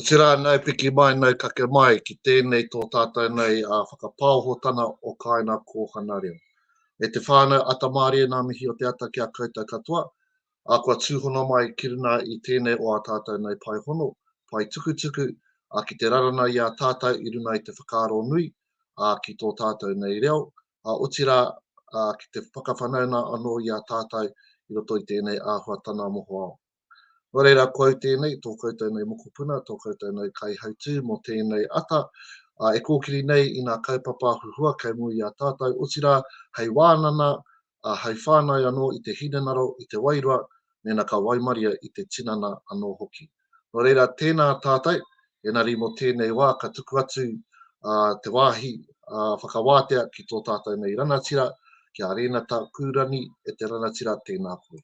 Otirā nau piki mai, nau kake mai ki tēnei tō tātou nei a Whakapāohotana o Kāina Kōhana Reo. E te whānau Atamārie nā mihi o te ata ki a koutou katoa, a kua tūhono mai ki runā i tēnei o a tātou nei pae hono, pae tukutuku, a ki te rarana i a tātou i runā i te whakaaro nui, a ki tō tātou nei reo, a otirā, a ki te whakawhanauna anō i a tātou i roto i tēnei āhuatana mohoao. Nō reira, ko au tēnei, tō koutou nei mokopuna, tō koutou nei kaihautū mō tēnei ata, ā, e kōkiri nei i ngā kaupapa huhua kei mua i a tātou, otirā, hei wānana, ā, hei whāngai anō i te hinengaro, i te wairua, mēnā ka waimaria i te tinana anō hoki. Nō reira, tēnā tātai, engari mō tēnei wā ka tuku atu te wāhi whakawātea ki tō tātou nei rangatira, ki a Rēnata Kūrani, e te rangatira, tēnā koe.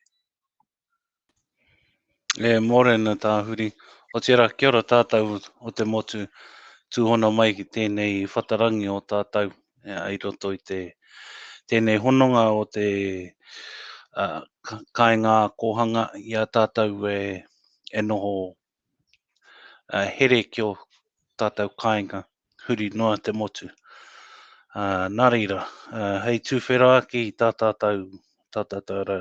E Morena Tahuri, Otira kia ora tatou o te motu tuhona mai ki tenei whatarangi o tatou i roto i te tenei hononga o te kainga akohanga i a tatou e noho ā, here ki ō tātou kāinga, huri noa te motu. Ā, nā reira, ā, hei tūwhera ake i tā tātou, tā tātou ra,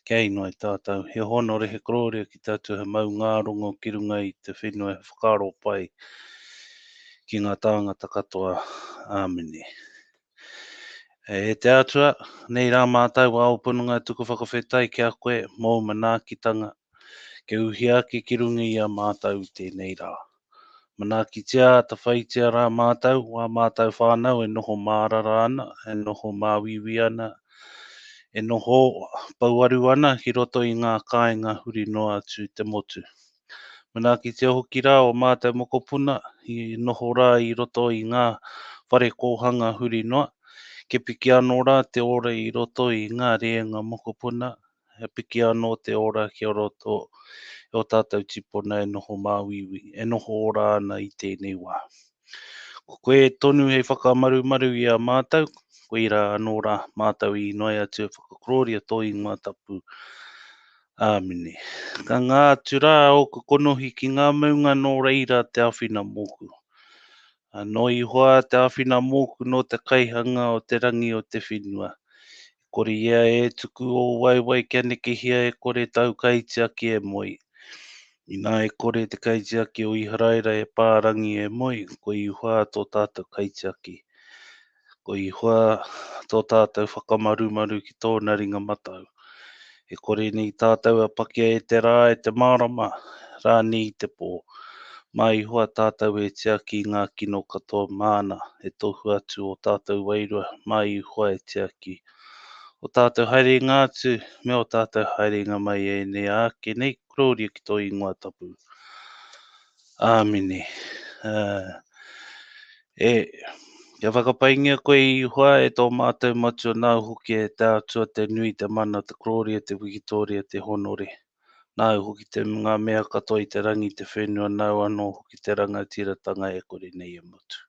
kia inoi tātou, he hōnore, he korōria ki tātou, he maungārongo ki runga i te whenua, he whakaaro pai ki ngā tāngata katoa. Āmine. E te Atua, nei rā mātau ao pononga tuku whakawhetai ki a koe mōu manaakitanga, kia uhia ake ki runga i a mātau i tēnei rā. Manaakitia atawhaitia rā mātau, wā mātau whānau e noho mārara ana, e noho māuiui ana, e noho pouaru ana ki roto i ngā kāinga huri noa atu te motu. Manaakitia hoki rā o mātou mokopuna i noho rā i roto i ngā whare kōhanga huri noa, kia piki anō rā te ora i roto i ngā rēnga mokopuna, kia piki anō te ora ki roto i ō tātou tīpuna e noho māuiui, e noho ora ana i tēnei wā. Ko koe tonu hei whakamarumaru i a mātou, koirā anō rā mātou i inoai atu e whakakorōria tō ingoa tapu. Āmine. Ka ngā atu rā ōku konohi ki ngā maunga nō reira te āwhina mōku. Anō ihoa te āwhina mōku nō te kaihanga o te rangi o te whenua. Kore i a e tuku ō waewae kia nekehia e kore tāu kaitiaki e moe. Inā e kore te kaitiaki o Iharaira e pārangi e moe, ko Ihowā tō tātou kaitiaki. Ko Ihowā tō tātou whakamarumaru ki tōna ringa matau. E kore nei tātou a pakia e te rā, e te mārama, rānei i te pō. Mā Ihowa tātou e tiaki i ngā kino katoa māna, e tohu atu ō tātou wairua, mā Ihowa e tiaki. O tātou haerenga atu, me o tātou haerenga mai ēnei āke nei, kura uria ki tō ingoa tapu. Āmine. Ā, e, kia whakapaingia koe i Ihoā e tō mātou matua nāu hoki e te Atua te nui, te mana, te kororia, te wikitoria, te honore, nāu hoki te ngā mea katoa i te rangi, te whenua, nāu anō hoki te rangatiratanga e kore nei e mutu.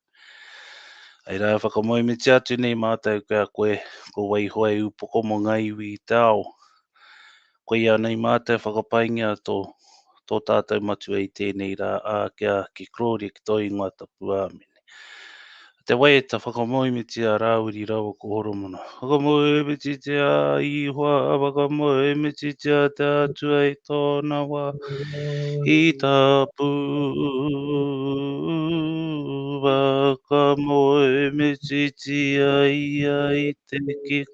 Āe rā, e whakamoemitia atu nei mātou kia koe, ko wai hoa e upoko mō ngā iwi i te ao, Koia nei mātou e whakapaingia tō, tō tātou Matua i tēnei rā, ā, kia ki Klōria ki tō ingoa tapu. Āmine. I te wai e ta, whakamoemitia a Rāwiri rāua ko Horomona. Whakamoemititia a Ihoa, whakamoemititia te Atua i tōna wā, i tā pū. Whakamoemititia ia i te kiko.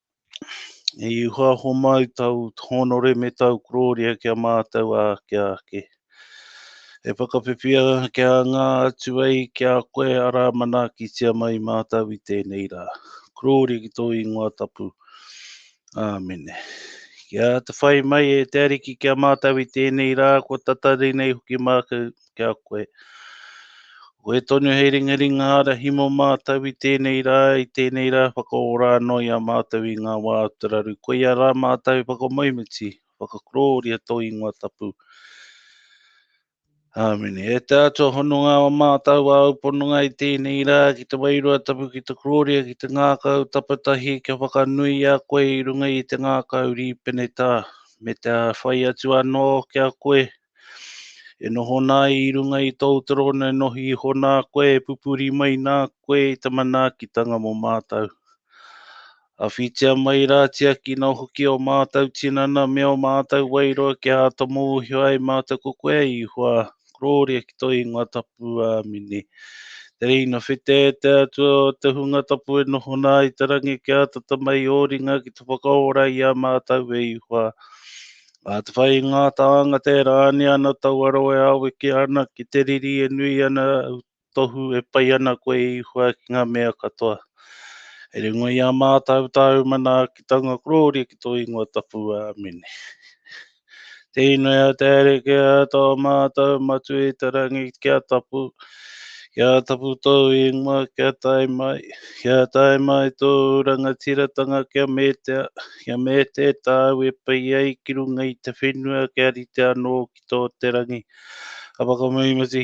E Ihuha homai tau honore me tau kroria kia mātou ake ake. E whakawhiwhia kia ngā atu ai kia koe ara manaakitia mai mātou i tēnei rā. Kroria ki tō ingoa tapu. Āmene. Kia te whai mai e te Ariki kia mātou i tēnei rā kua tatari nei hoki mātou, ki a koe. Ko e tonu hei ringaringa ārahi mō mātou i tēnei rā, i tēnei rā whakaora anō i a mātou i ngā wā o te raru. Koia rā mātou e whakamoemiti, whakakorōria tō ingoa tapu. Āmine. E te atua hononga o mātou a au pononga i tēnei rā, ki te wairua tapu, ki te korōria, ki te ngākau tapatahi, kia whakanui a koe i runga i te ngākau rīpenetā, me te whai atu anō ki a koe, E noho nā i runga i tōu torona e nohi iho nā koe e pupuri mai nā koe i te manaakitanga mō mātou. Awhitia mai rā tiakina hoki o mātou tinana me o mātou wairua kia āta mōhio ai mātou ko koe a Ihua, korōria ki tō ingoa tapu, āmine. Tereina whete e te Atua o te hunga tapu e noho nā i te rangi kia āta tama i ō ringa ki te whakaora i a mātou e Ihua, Ā, te whai i ngā tānga te rāni ana taua roa e aweke ana ki te riri e nui ana au tohu e pai ana koe i hua ki ngā mea katoa. E ringo i a mātau tāu manaakitanga korōria ki tō ingoa tapu. Āmine. Te inoi a te areke a tō mātau matua i te rangi kia tapu, kia tapu tōu ingoa, kia tae mai, kia tae mai tōu rangatiratanga kia metea, kia mete tāu e pai ai ki runga i te whenua kia rite anō ki tō te rangi. A whakamoemiti,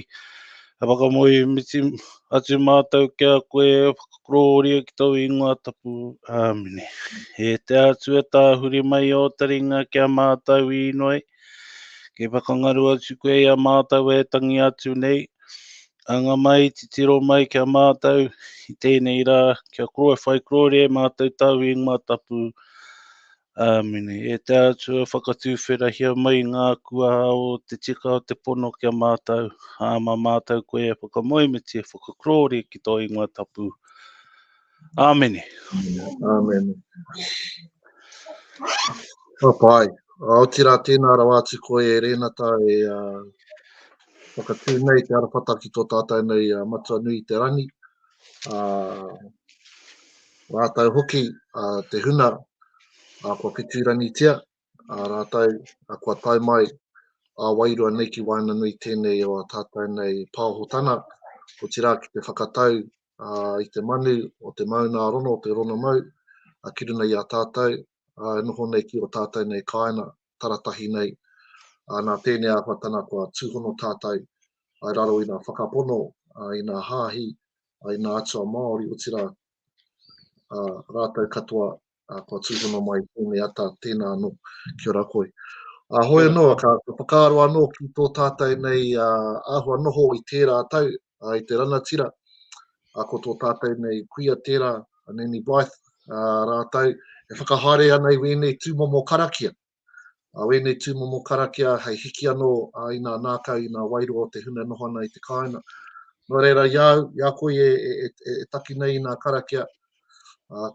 a whakamoemiti atu mātou kia koe e whakakorōria ki tō ingoa tapu. Āmine. E te Atua tāhuri mai ō taringa kia mātou inoi, Kei whakangaru atu koe i a mātou e tangi atu nei, anga mai, titiro mai ki a mātou i tēnei rā, kia kore whai kore e mātou tau i ngā tapu. Āmine. E te Atua, whakatūwherahia mai ngā kuaha o te tika o te pono ki a mātou, ā, mā mātou koe e whakamoemiti e whakakore ki tō ingoa tapu. Āmene. Āmene. Ka pai. Aoti rā tēnā rawa atu koe e Rēnata e uh, whakatū nei te arapata ki tō tātou nei uh, matua nui te rangi. Uh, rātou hoki uh, te huna uh, kua whitirangitia. a rātou kua tae mai a wairua nei ki waenganui tēnei o a tātou nei pāhotana, otirā ki te whakatau i te manu o te maunārono, o te ronomau, ki runga i a tātou, e noho nei ki o tātou nei kāinga taratahi nei. Nā tēnei āhuatana kua tūhono tātou i raro i ngā whakapono, i ngā hāhi, i ngā atua Māori, otirā rātou katoa a, kua tūhono mai tēnei ata, tēnā anō, kia ora koe. A hoi anō, ka, ka whakaaro anō ki tō tātou nei a, āhua noho i tērā tau, a, i te rangatira, a, ko tō tātou nei kuia tērā, a Neni Blyth, a, rātou, e whakahaere ana i wēnei tūmomo karakia. Ā wēnei tūmomo karakia hei hiki anō i nā nākau, i nā wairua o te huna e noho ana i te kāinga. Nō reira, i a au, i a koe e taki nei i nā karakia,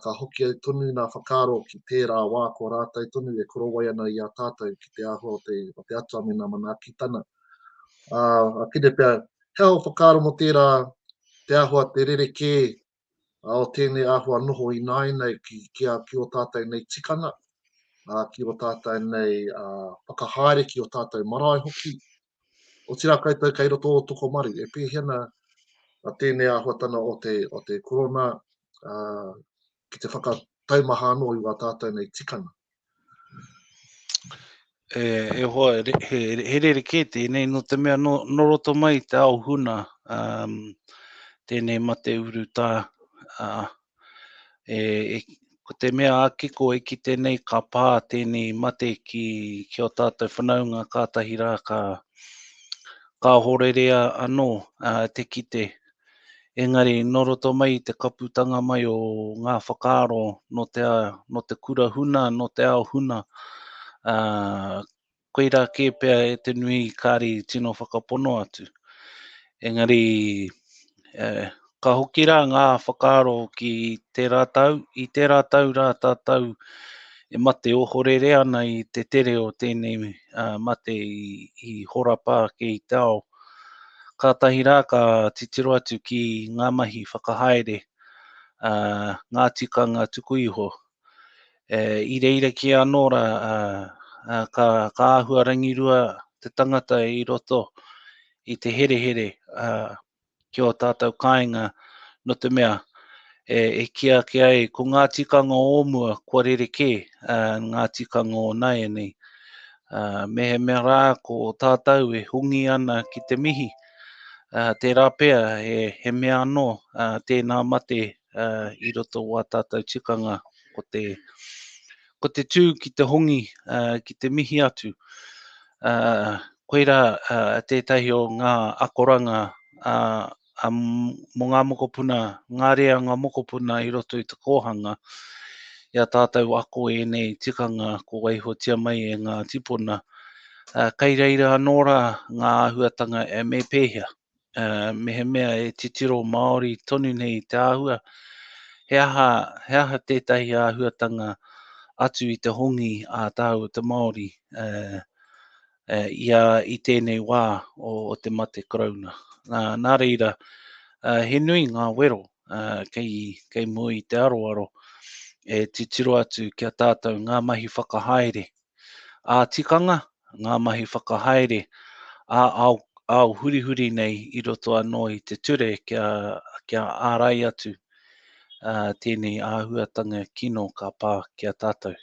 ka hoki ai tonu nā whakaaro ki tērā wā ko rātou tonu e korowai ana i a tātou ki te āhua o te atua me nā manaakitanga. Ā, kite pea, he aha ō whakaaro mō tērā, te āhua te rerekē ā, o tēnei āhua noho ināianei ki, ki, a, ki ō tātou nei tikanga, ā, ki ō tātou nei ā, whakahaere, ki ō tātou marae hoki. Otirā koutou kei roto o Tokomaru, e pēhea na, a tēnei āhuatanga o te, o te korona ā, ki te whakataumaha anō i wā tātou nei tikanga. E, e hoa, he, he, he rere kē tēnei, no te mea no, no roto mai te ao huna, um, tēnei mate uru tā, uh, e, e, ko te mea ake ko e ki tēnei ka pā tēnei mate ki, ki o tātou whanaunga kātahi rā ka, ka horerea anō uh, te kite Engari, nō roto mai i te kaputanga mai o ngā whakaaro nō te, nō te kura huna, nō te ao huna, ā, koirā kē pea e te nui kāri tino whakapono atu. Engari, e, ka hoki rā ngā whakaaro ki tērā tau, i tērā tau rā tātou e mate ohorere ana i te tere o tēnei ā, mate i, i horapa ake i te ao, Kātahi rā ka titiro atu ki ngā mahi whakahaere, ā, ngā tikanga tuku iho. I reira kē anō rā, ā, ka, ka āhua rangirua te tangata i roto i te herehere, ā, ki ō tātou kāinga, nō te mea, e kī ake ai, ko ngā tikanga o mua, kua rerekē, ā, ngā tikanga o nāianei. Ā, mehemea rā ko tātou e hongi ana ki te mihi, ā, tērā pea he mea anō, ā, tēnā mate uh, i roto o a tātou tikanga, ko te, ko te tū ki te hongi, uh, ki te mihi atu. Uh, koira uh, tētahi o ngā akoranga uh, a, mo ngā mokopuna, ngā reanga mokopuna i roto i te kōhanga, i a tātou ako e nei tikanga ko waihotia mai e ngā tipona. Uh, kei reira anō rā ngā āhuatanga e me pēhea. uh, mehemea e titiro Māori tonu nei te āhua, he aha, he aha tētahi āhuatanga atu i te hongi a tāua te Māori uh, uh, i, a, i tēnei wā o, o te mate karauna. Nā, nā reira, uh, he nui ngā wero uh, kei, kei mui te aroaro e titiro atu ki a tātou ngā mahi whakahaere Ā-tikanga, ngā mahi whakahaere ā-ao, ao hurihuri nei i roto anō i te ture kia, kia ārai atu tēnei āhuatanga kino ka pā ki a tātou,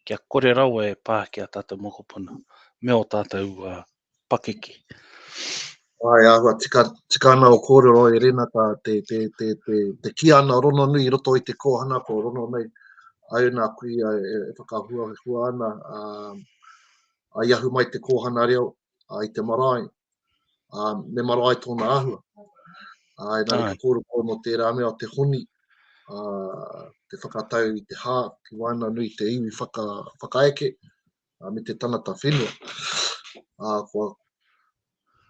kia kore rawa e pā ki a tātou mokopuna me ō tātou pakeke. Ae, ahua tika, tika ana o kōrero e Rena ta te, te, te, te, te ki ana rono nui roto i te kōhana ko rono nei ai nā kui e, e whakahua hua ana a, a iahu mai te kōhana reo a, i te marae, a, me marae tōna ahua. A, e nare ka kōrero no tērā mea o te honi, a, te whakatau i te hā, ki waina nui te iwi whaka, whakaeke, me te tangata whenua. Ā, kua,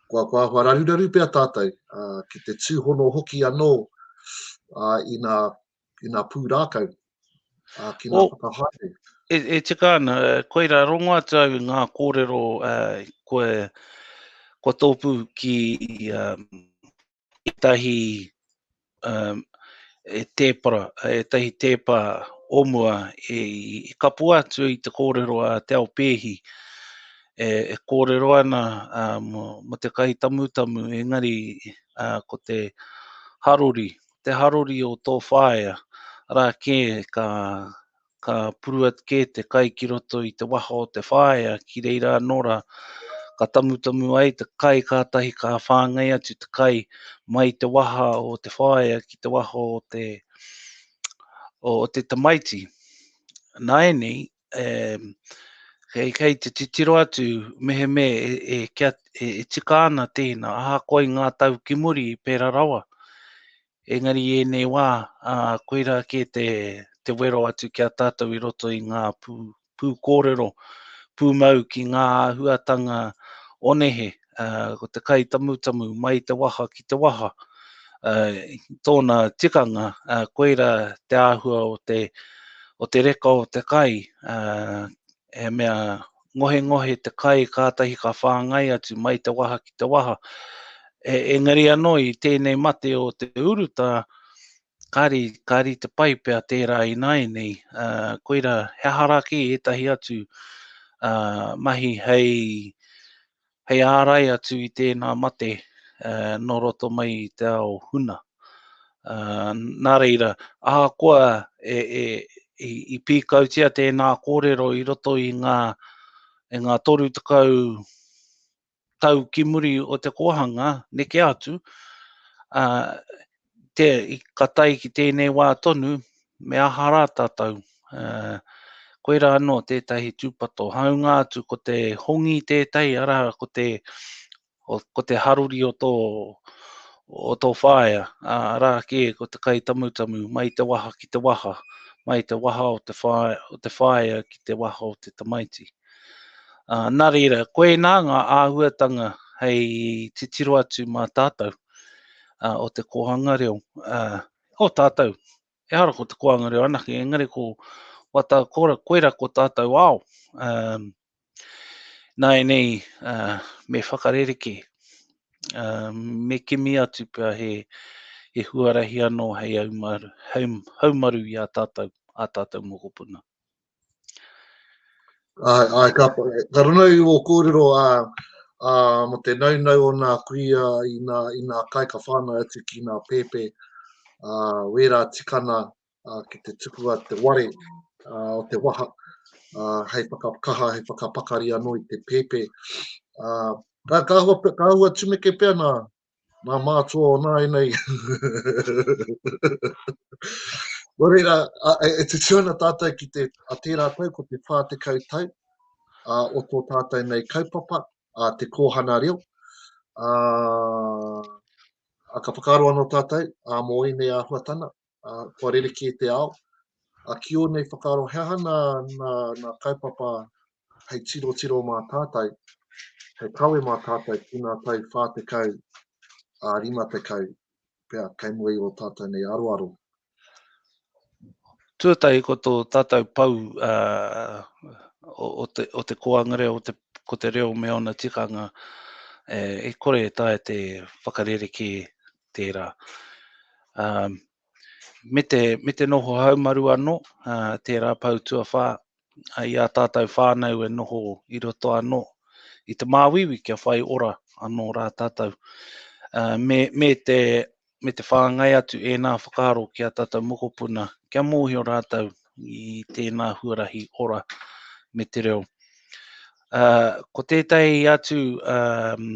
kua, kua, kua raruraru pea tātou, ā, ki te tūhono hoki anō ā, i, nā, i nā pūrākau, ā, ki nā oh. whakahaere. E, e tika ana, koira rongo atu au ngā kōrero uh, koe, kua tōpū ki, um, ētahi um, e tēpara, ētahi tēpa o mua e, i kapua atu i te kōrero a Te Ao Pēhi. E, e kōrero ana uh, mo, mo te kai tamutamu, engari uh, ko te harori, te harori o tō whaea, rā kē ka, ka purua kē te kai ki roto i te waha o te whaea, ki reira anō rā, ka tamutamu ai te kai kātahi ka whāngai atu te kai mai te waha o te whaea ki te waha o te, o, o te tamaiti. Nāianei, e, kei, kei te titiro atu mehemē e, e, kia, e, e tika ana tēnā, ahakoa i ngā tau ki muri pērā rawa, Engari i ēnei wā, ā, koirā kē te, te wero atu ki a tātou i roto i ngā pū, pū kōrero, pūmau ki ngā āhuatanga o nehe, ā, ko te kaitamutamu mai i te waha ki te waha, ā, i tōna tikanga, ā, koirā te āhua o te, o te reka o te kai, ā, He mea ngohengohe te kai kātahi ka whāngai atu mai te waha ki te waha. Engari anō i tēnei mate o te urutā, kāri, kāri te pai pea tērā ināianei. Koira, he aha rā kē ētahi atu mahi hei, Hei ārai atu i tēnā mate nō roto mai i te ao huna. Nā reira, ahakoa e, e, i, i pīkautia tēnā kōrero i roto i ngā, i ngā 30 tau ki muri o te kōhanga, neke atu, uh, te, i ka tai ki tēnei wā tonu, me aha rā tātou? Uh, koira anō tētahi tūpato. Haunga atu ko te hongi tētahi, ara ko te, o, ko te haruri o tō, o tō whaea, ara kē ko te kai tamutamu, mai te waha ki te waha, mai te waha o te whaea, o te whaea ki te waha o te tamaiti. Uh, nā reira, koe nā ngā āhuatanga hei titiro atu mā tātou. o te kōhanga reo, o tātou. Ehara ko te kōhanga reo anake, engari ko wata, ko, koira ko tātou ao. Um, nā enei, uh, me whakarereke, uh, me kimi atu pia he, he huarahi anō hei haumaru, haum, haumaru i a tātou, a tātou mokopuna. Ae, ka rangona i wō kōrero mō te naunau o nā kuia i nā kai ka whānau atu ki nā pēpē, wērā tikana ki te tukua te ware o te waha hei whakakaha, hei whakapakari anō i te pēpē. Ka āhua tumeke pea nā Nā mātua o nāinei. Nō reira, e, e te tūna tātou ki te, a tērā tau ko te 40 tau a, o tō tātou nei kaupapa, a te kōhana reo. A, a ka whakaaro anō tātou, a mō ēnei āhuatana, uh, kua rerekē te ao. A ki o nei whakaaro, he aha nā, nā, nā kaupapa hei tirotiro mā tātai, hei kawe mā tātai ki nā tai 40 a 50 pea kei mua i o tātai nei aroaro. Tuatahi ko tō tātou pau uh, o, o, te, o te koangere, o te, ko te reo me ona tikanga, e, e kore e tae te whakarere ki tērā. Me te, me te noho haumaru anō, tērā pau tuawhā, i a tātou whānau e noho i roto anō i te māuiui kia whai ora anō rā tātou. Me, me te, me te whāngai atu ēnā whakaaro ki a tātou mokopuna, kia mōhio rātou i tēnā huarahi ora me te reo. Uh, ko tētai atu um,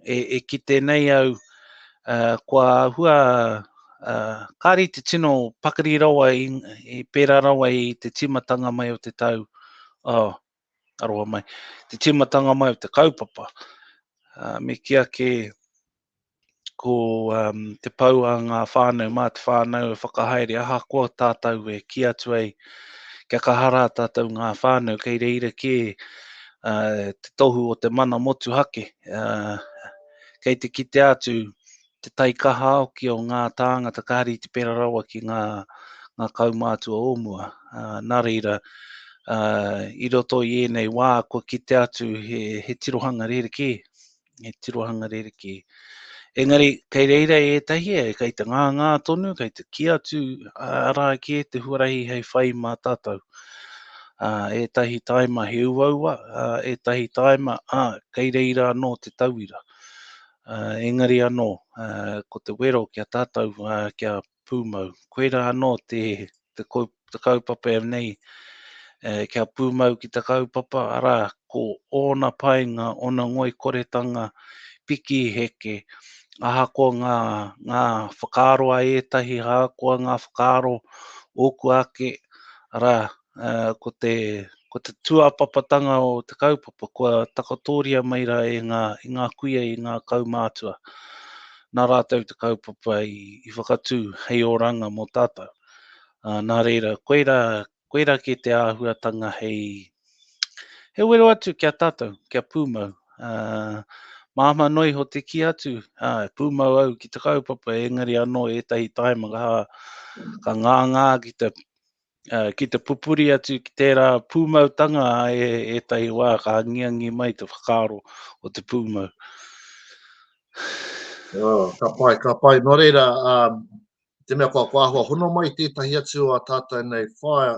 e, e kite nei au, uh, kua hua uh, kāri te tino pakari rawa i, i pērā rawa i te tīmatanga mai o te tau, oh, aroha mai, te tīmatanga mai o te kaupapa. Uh, me ki ake ko um, te pau a ngā whānau mā te whānau e whakahaere aha koa tātou e ki atu ai kia kahara tātou ngā whānau kei reira kē te tohu o te mana motuhake, kei te kitea atu te taikaha hoki o ngā tāngata ka hari te pera rawa ki ngā, ngā kaumātua o mua. Nā reira, i roto i ēnei wā, kua kitea atu he, he tirohanga rerekē he tirohanga rerekē. Engari, kei reira ētahi e kei te ngāngā tonu, kei te ki atu arā kē te huarahi hei whai mā tātou. Uh, ētahi taima he uaua, uh, ētahi taima uh, kei reira anō te tauira. Uh, engari anō, uh, ko te wero kia tātou uh, kia pūmau. Koirā anō te, te, kau, te kaupapa e nei, e, kia pūmau ki te kaupapa, arā, ko ōna painga, ōna ngoikoretanga, piki heke, ahakoa ngā, ngā whakaaro a ētahi, ahakoa ngā whakaaro ōku ake, arā, Ko te tūāpapatanga o te kaupapa, kua takatoria mai rā e ngā kuia, e ngā kaumātua, nā rātou te kaupapa i whakatū hei oranga mō tātou. Nā reira, koirā kē te āhuatanga hei wero atu ki a tātou, ki a pūmau. Māmā noa iho te kī atu, e pūmau au ki te kaupapa, engari anō ētahi taimanga ka ngāngā ki te uh, ki te pupuri atu ki tērā pūmautanga e, e tahi wā ka ngiangi mai te whakaaro o te pūmau. Oh, ka pai, ka pai. Nō reira, um, te mea kua kua ahua hono mai tētahi atu a tātou nei whaia,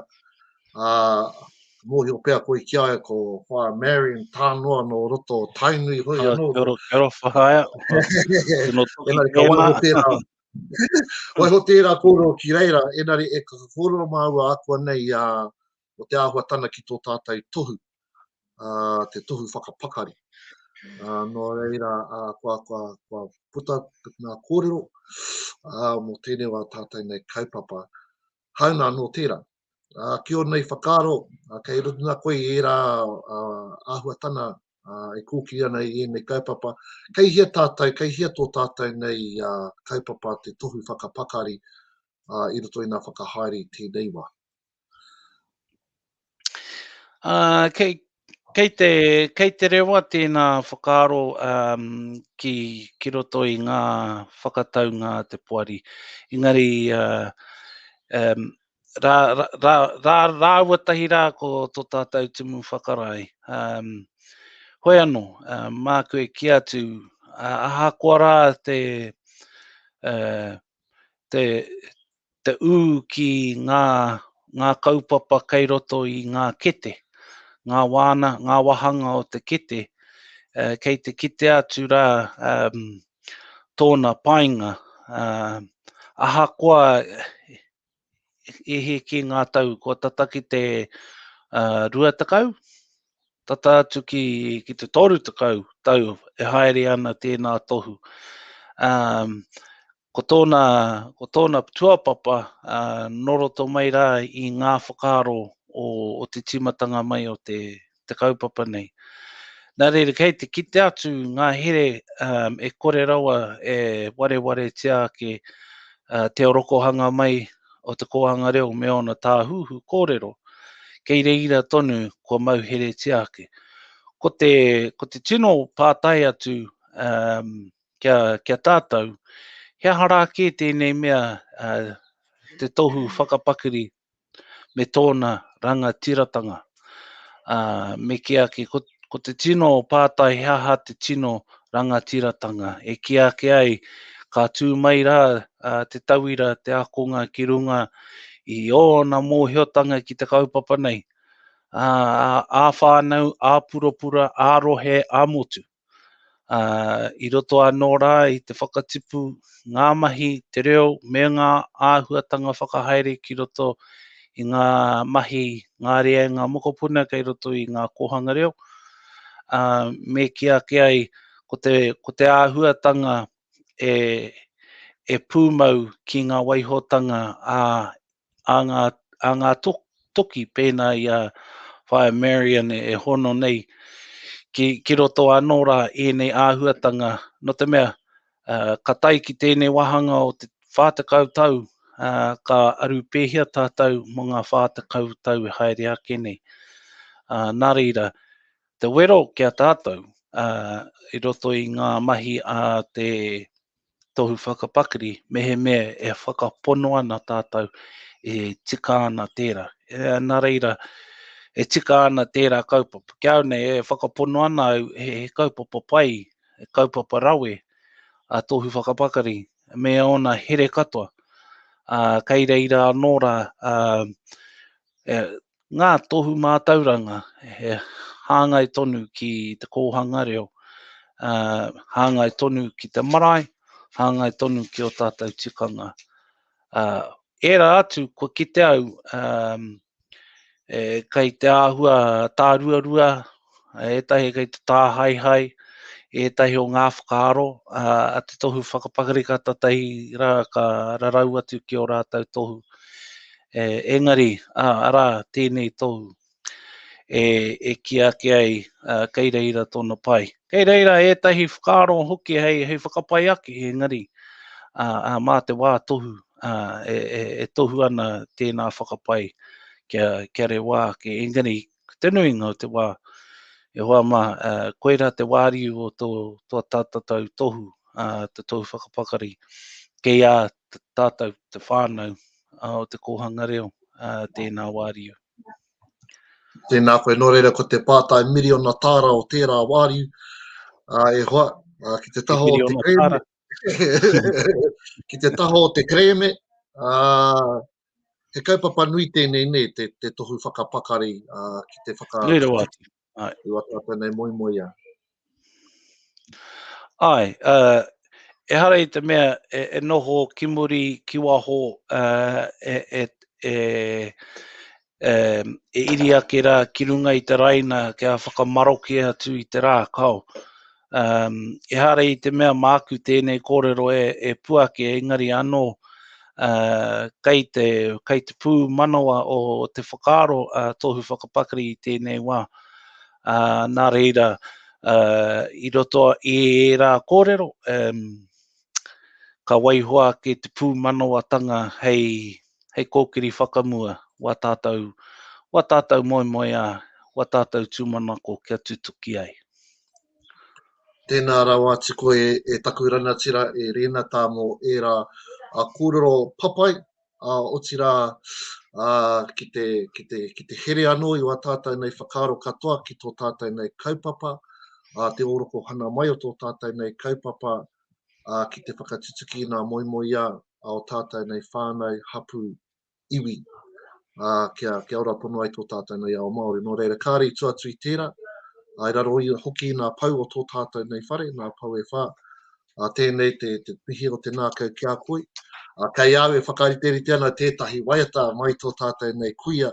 uh, mōhi o pēa koi ki aia ko whaia Marion Tānoa no roto Tainui hoi anō. Kia ora whaia. Enari, ka wai o tērā, Waiho tērā kōrero ki reira, engari e whakakōrero māua ākuanei i a o te āhuatana ki tō tātou tohu, te tohu whakapakari. Nō reira, kua, kua, kua puta ngā kōrero mō tēnei wā tātou nei kaupapa, haunga anō tērā. ki ōna i whakaaro, kei roto nā koe i ērā āhuatana e kōkiri ana i ēnei kaupapa, kei hea tātou, kei hea tō tātou nei kaupapa te tohu whakapakari i roto i nā whakahaere i tēnei wā. Kei te, kei te rewa tēnā whakaaro um, ki, ki roto i ngā whakataunga a te poari. Engari, uh, um, rā, rā, rā, rāua tahi rā ko tō tātou tumu whakarae. Um, hoi anō, uh, māku e ki atu, uh, ahakoa rā te, uh, te, te ū ki ngā ngā kaupapa kei roto i ngā kete, ngā wāna, ngā wāhanga o te kete, kei te kitea atu rā tōna painga. Ahakoa e hē kē ngā tau, kua tata ki te rua tekau, tata atu ki te toru tekau tau e haere ana tēnā tohu. Ko tōna, ko tōna tuapapa, ā, nō roto mai rā i ngā whakaaro o, o te tīmatanga mai o te, te kaupapa nei. Nā reira, kei te kite atu ngā here um, e kore rawa e warewaretia ake uh, te orokohanga mai o te kōhanga reo me ōna tāhuhu kōrero, kei reira tonu kua mauheretia ake. Ko te, ko te tino pātai atu um, kia, kia tātou, he aha rā kē tēnei mea uh, te tohu whakapakiri me tōna rangatiratanga. Uh, me ki ake, ko, ko te tino pātai he aha te tino rangatiratanga. E ki ake ai, ka tū mai rā uh, te tauira, te akonga ki runga i ōna mōhiotanga ki te kaupapa nei. Uh, a, a whānau, a puropura, a rohe, a motu. ā, i roto anō rā i te whakatipu ngā mahi, te reo me ngā āhuatanga whakahaere ki roto i ngā mahi, ngā rēinga mokopuna kei roto i ngā kōhanga reo, ā, me kī ake ai ko te, ko te āhuatanga e, e pūmau ki ngā waihotanga, ā, a ngā, a ngā toki pēnā i a Whaea Marion e, e hono nei ki, ki roto anō rā ēnei āhuatanga, no te mea, uh, ka tai ki tēnei wāhanga o te 40 tau, uh, ka aru pēhia tātou mō ngā 40 tau e haere ake nei. Uh, nā reira, te wero ki a tātou uh, i roto i ngā mahi a te Tohu whakapakari, mehemea e whakapono ana tātou e tika ana tērā. E, nā reira, e tika ana tērā kaupapa. Ki au nei, e whakapono ana au he, he kaupapa pai, he kaupapa rawe, a Tohu whakapakari, me ōna here katoa. A, kei reira anō rā, a, e, ngā tohu mātauranga he hāngai tonu ki te kōhanga reo, hāngai tonu ki te marae, hāngai tonu ki o tātou tikanga. Era atu, kua kite au, kei te āhua tāruarua, ētahi kei te tāhaehae, ētahi o ngā whakaaro a te tohu whakapakari ka tatahi rā, ka rarau atu ki o rātou tohu. E, engari, a, arā, tēnei tohu e, e ki ake ai a, kei reira tōna pai. Kei reira ētahi whakaaro hoki hei, hei whakapai ake, engari, a, a, mā te wā tohu a, e, e, e tohu ana tēnā whakapai kia, kia rewā ake. Engari, Ko te nuinga o te wā, e hoa mā, koirā te wāriu o tō tātatau tohu, te tohu whakapakari, kei a tātau te whānau o te kōhanga reo, tēnā wāriu. Tēnā koe, nō reira ko te pātai miriona tāra o tērā wāriu, e hoa, ki te taha o te kerēme. ki te taha o te kerēme, uh, he kaupapa nui tēnei nei, te, te tohu whakapakari uh, ki te whaka... Nui rawa atu. Ai. Nui rawa atu nei moi moi a. Ai, uh, e hara i te mea e, e noho ki muri, ki waho, uh, e, e, e, e iri ake rā ki runga i te raina kia whakamaroke atu i te rākau. Ehara i te mea māku tēnei kōrero e, e puake, engari anō, kei te, kei te pū manawa o te whakaaro a Tohu Whakapakari i tēnei wā. Nā reira, i roto i ērā kōrero, ka waiho ake te pūmanawatanga hei hei kōkiri whakamua wā tātou, wā tātou moemoeā, wā tātou tūmanako kia tutuki ai. Tēnā rawa atu koe e taku rangatira e Rina tā mō ērā kōrero papai, ā, otirā, ā, ki te, ki te, ki te here anō i wā tātou nei whakaaro katoa ki tō tātou nei kaupapa, ā, te ōrokohana mai o tō tātou nei kaupapa, ā, ki te whakatutuki i ngā moemoeā a ō tātou nei whānau, hapū, iwi, ā, kia, kia ora pono ai tō tātou nei ao Māori. Nō reira, kāre i tua atu i tērā, ā, i raro i, hoki i ngā pou o tō tātou nei whare, ngā pou e whā, ā, tēnei te, te pihi o te ngākau ki a koe, ā, kei au e whakariterite ana tētahi waiata mai i tō tātou nei kuia,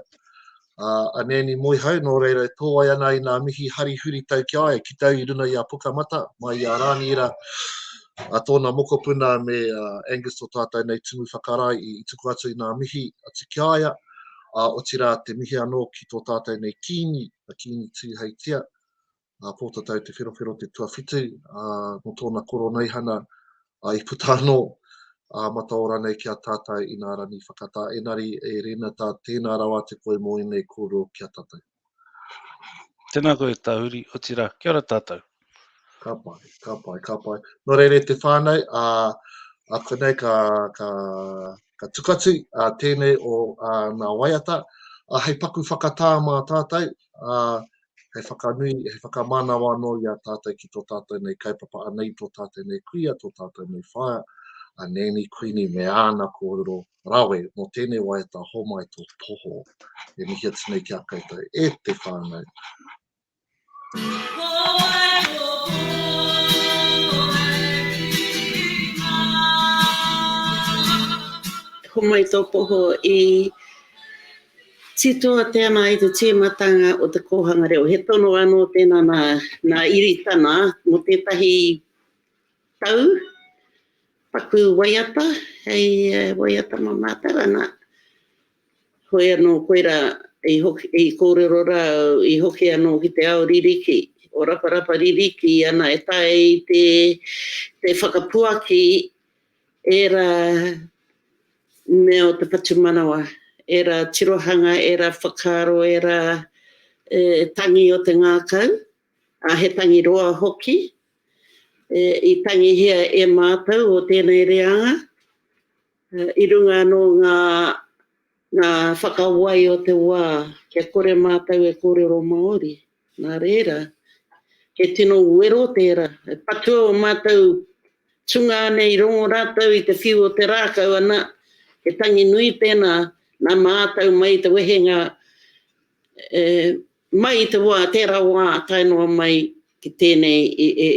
a Anēni Moehau, nō reira e tō ai ana i nā mihi hari huritau ki a ia, ki tau i runa i a Pukamata, mai i a Rāniera, a tōna mokopuna me Angus tō tātou nei tumu whakarae i tuku atu i nā mihi atu ki a ia, a otirā te mihi anō ki tō tātou nei Kīngi, a Kīngi Tūheitia, a Pōtatau Te Wherowhero te tuawhiti nō tōna koroneihana i puta anō a Mataora nei ki a tātai inā rangi whakatā enari e rēna tā tēnā rawa te koe mō ēnei kōrero ki a tātou. Tēnā koe Tahuri, otira, kia ora tātou. Ka pai, ka pai, ka pai. Nō reira te whānau, a, a konei ka, ka, ka tukati a tēnei o a, nā waiata, a hei paku whakatā mā tātou, a, hei whakanui, hei whakamanawa anō i a tātou ki tō tātou nei kaupapa, anei tō tātou nei kuia, tō tātou nei whaea, a Nēni Kuini me āna kōrero rawe mō tēnei waiata homai tō poho. E mihi atu nei ki a koutou e te whānau. Homai tō poho i. Titoa tēnā i te tīmatanga o te kōhanga reo. He tono anō tēnā nā, nā Iritana mō tētahi tau paku waiata hei waiata mō mātou, ana, hoi anō koirā i hoki, i kōrero rā i hoki anō ki te ao ririki, o raparapa ririki, ana, e taea ai te, te whakapuaki ērā mea o te whatumanawa, ērā tirohanga, ērā whakaaro, ērā tangi o te ngākau, ā, he tangi roa hoki, i tangihia e mātou o tēnei reanga, i runga anō ngā whakawai o te wā, kia kore mātou e kōrero Māori. Nā reira, he tino wero tērā. E patua ō mātou tūnga ane i rongo rātou i te whiu o te rākau ana, he tangi nui tēnā nā mātou mai i te wehenga e, mai i te wā, tērā wā tae noa mai ki tēnei e, e,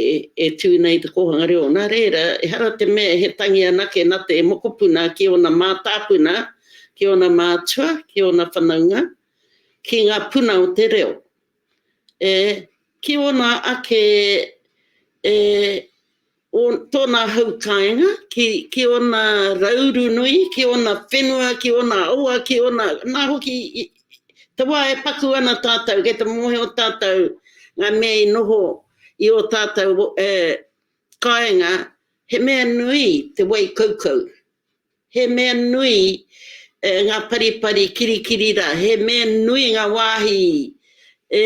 e tū nei te kōhanga reo. Nā reira, ehara te mea he tangi anake nā te mokopuna ki ōna mātāpuna, ki ōna mātua, ki ōna whanaunga, ki ngā puna o te reo, e, ki ōna ake, e, o, tōna haukāinga, ki, ki ōna rauru nui, ki ōna whenua, ki ōna awa, ki ōna, nā hoki, i, te wā e paku ana tātou, kei te mōhio tātou ngā mea i noho i ō tātou, e, kāinga, he mea nui te wai kaukau. He mea nui ngā paripari kirikiri rā, he mea nui ngā wāhi e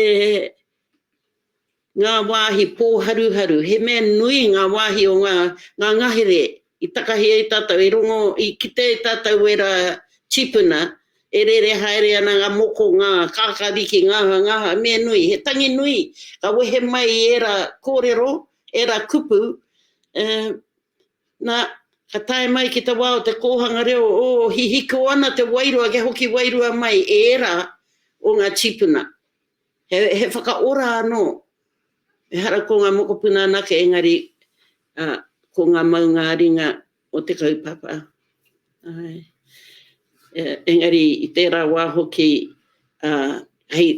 ngā wāhi pōharuharu, he mea nui ngā wāhi o ngā ngahere i takahi ai tātou, i rongo, i kite ai tātou wērā tīpuna e rere haere ana ngā mokonga, kākāriki, ngahangaha, mea nui, he tangi nui ka wehe mai i ērā kōrero, ērā kupu, Na, ka tae mai ki te wa o te kōhanga reo, ō, hihiko ana te wairua kia hoki wairua mai e era o nga tipuna. He, he whakaora anō. Ehara ko nga mokopuna anake engari, a, ko nga maunga-a-ringa o te kaupapa. Āe. Engari i tērā wā hoki, ā, hei,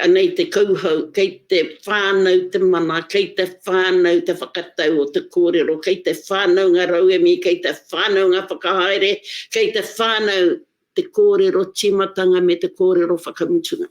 anei te kauhau, kei te whānau te mana, kei te whānau te whakatau o te kōrero, kei te whānau ngā rauemi, kei te whānau ngā whakahaere, kei te whānau te kōrero tīmatanga me te kōrero whakamutunga.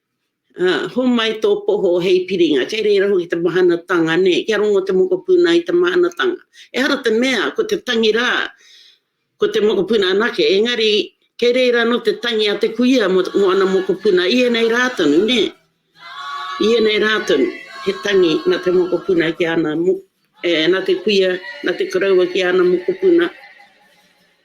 Ā, homai tō poho hei piringa, kei reira hoki te mahanatanga, nē, kia rongo te mokopuna i te mahanatanga. Ehara te mea, ko te tangi rā, ko te mokopuna anake, engari, kei reira anō te tangi a te kuia mō ana mokopuna, i ēnei rā tonu, nē? I ēnei rā tonu, he tangi nā te mokopuna ki ana, nā te kuia, nā te koroua ki ana mokopuna.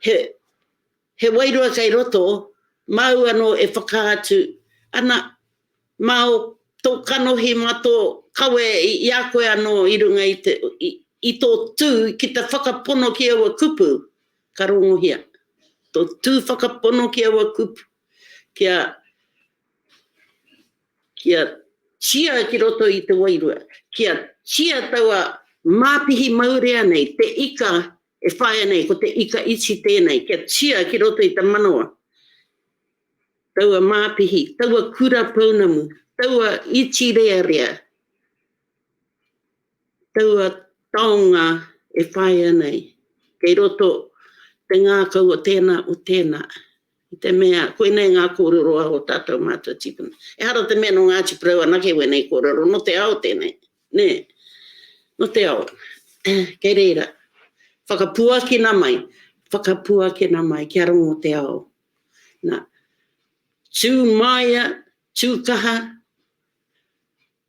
He, he wairua kei roto, māu anō e whakaatu, ana, mā ō, tō kanohi, mā tō kawe i a koe anō i runga i te, i, i tō tū ki te whakapono ki aua kupu, ka rongohia, tō tū whakapono ki aua kupu, kia, kia tia ki roto i te wairua, kia tia taua māpihi maurea nei, te ika E whaia nei ko te ika iti tēnei kia tia ki roto i te manawa, taua māpihi, taua kura pounamu, taua iti rearea, taua taonga e whaia nei kei roto te ngākau o tēnā, o tēnā. I te mea, koinei ngā kōrero a ō tātou mātua tīpuna. Ehara te mea nō Ngāti Porou anake wēnei kōrero, nō te ao tēnei, nē. Nō te ao. Kei reira, whakapuakina mai, whakapuakina mai kia rongo te ao. Nā, tū māia, tū kaha,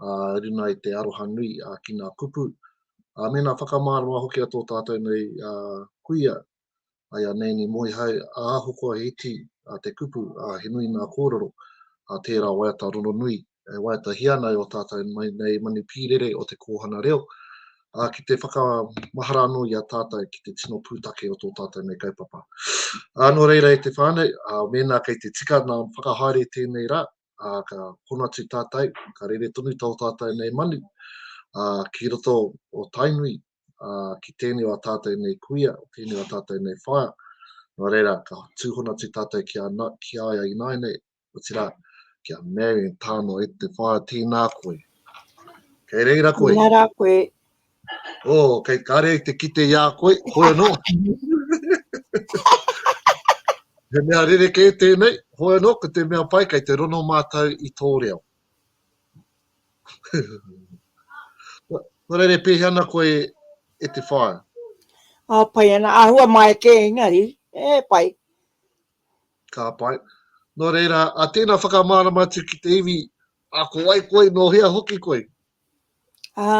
rinā i te aroha nui ki ngā kupu, me ngā whakamārama hoki a tō tātou nei kuia, ai a Neini Moihai, ahakoa he iti te kupu, he nui ngā kōrero, tērā waiata rongonui e waiatahia ana e ō tātou mai nei manu pīrere o te kōhanga reo, ki te whakamahara anō i a tātou ki te tino pūtake o tō tātou nei kaupapa. Nō reira e te whānau, mēnā kei te tika ngā whakahaere i tēnei rā, ā, ka hono atu i tātou, ka rere tonu i tō tātou nei manu, ā, ki roto o Tainui, ā, ki tēnei o ā tātou nei kuia, tēnei o ā tātou nei whaea, nō reira, ka tūhono atu tātou ki a, ki a ia ināianei, otirā, ki a Marion Tāno e te whaea tēnā koe. Kei reira koe. Tēnā rā koe. Oh, kei kare te kite i a koe, hoi anō. He mea rerekē tēnei, hoi anō, ko te mea pai kei te rono mātou i tō reo. Nō reira, pēhea ana koe e te whāia? Ah, pai ana, āhua māia kē engari, e pai. Ka pai. Nō reira, a tēnā whakamārama atu ki te iwi, a ko wai koe, nō hea hoki koe? Ā,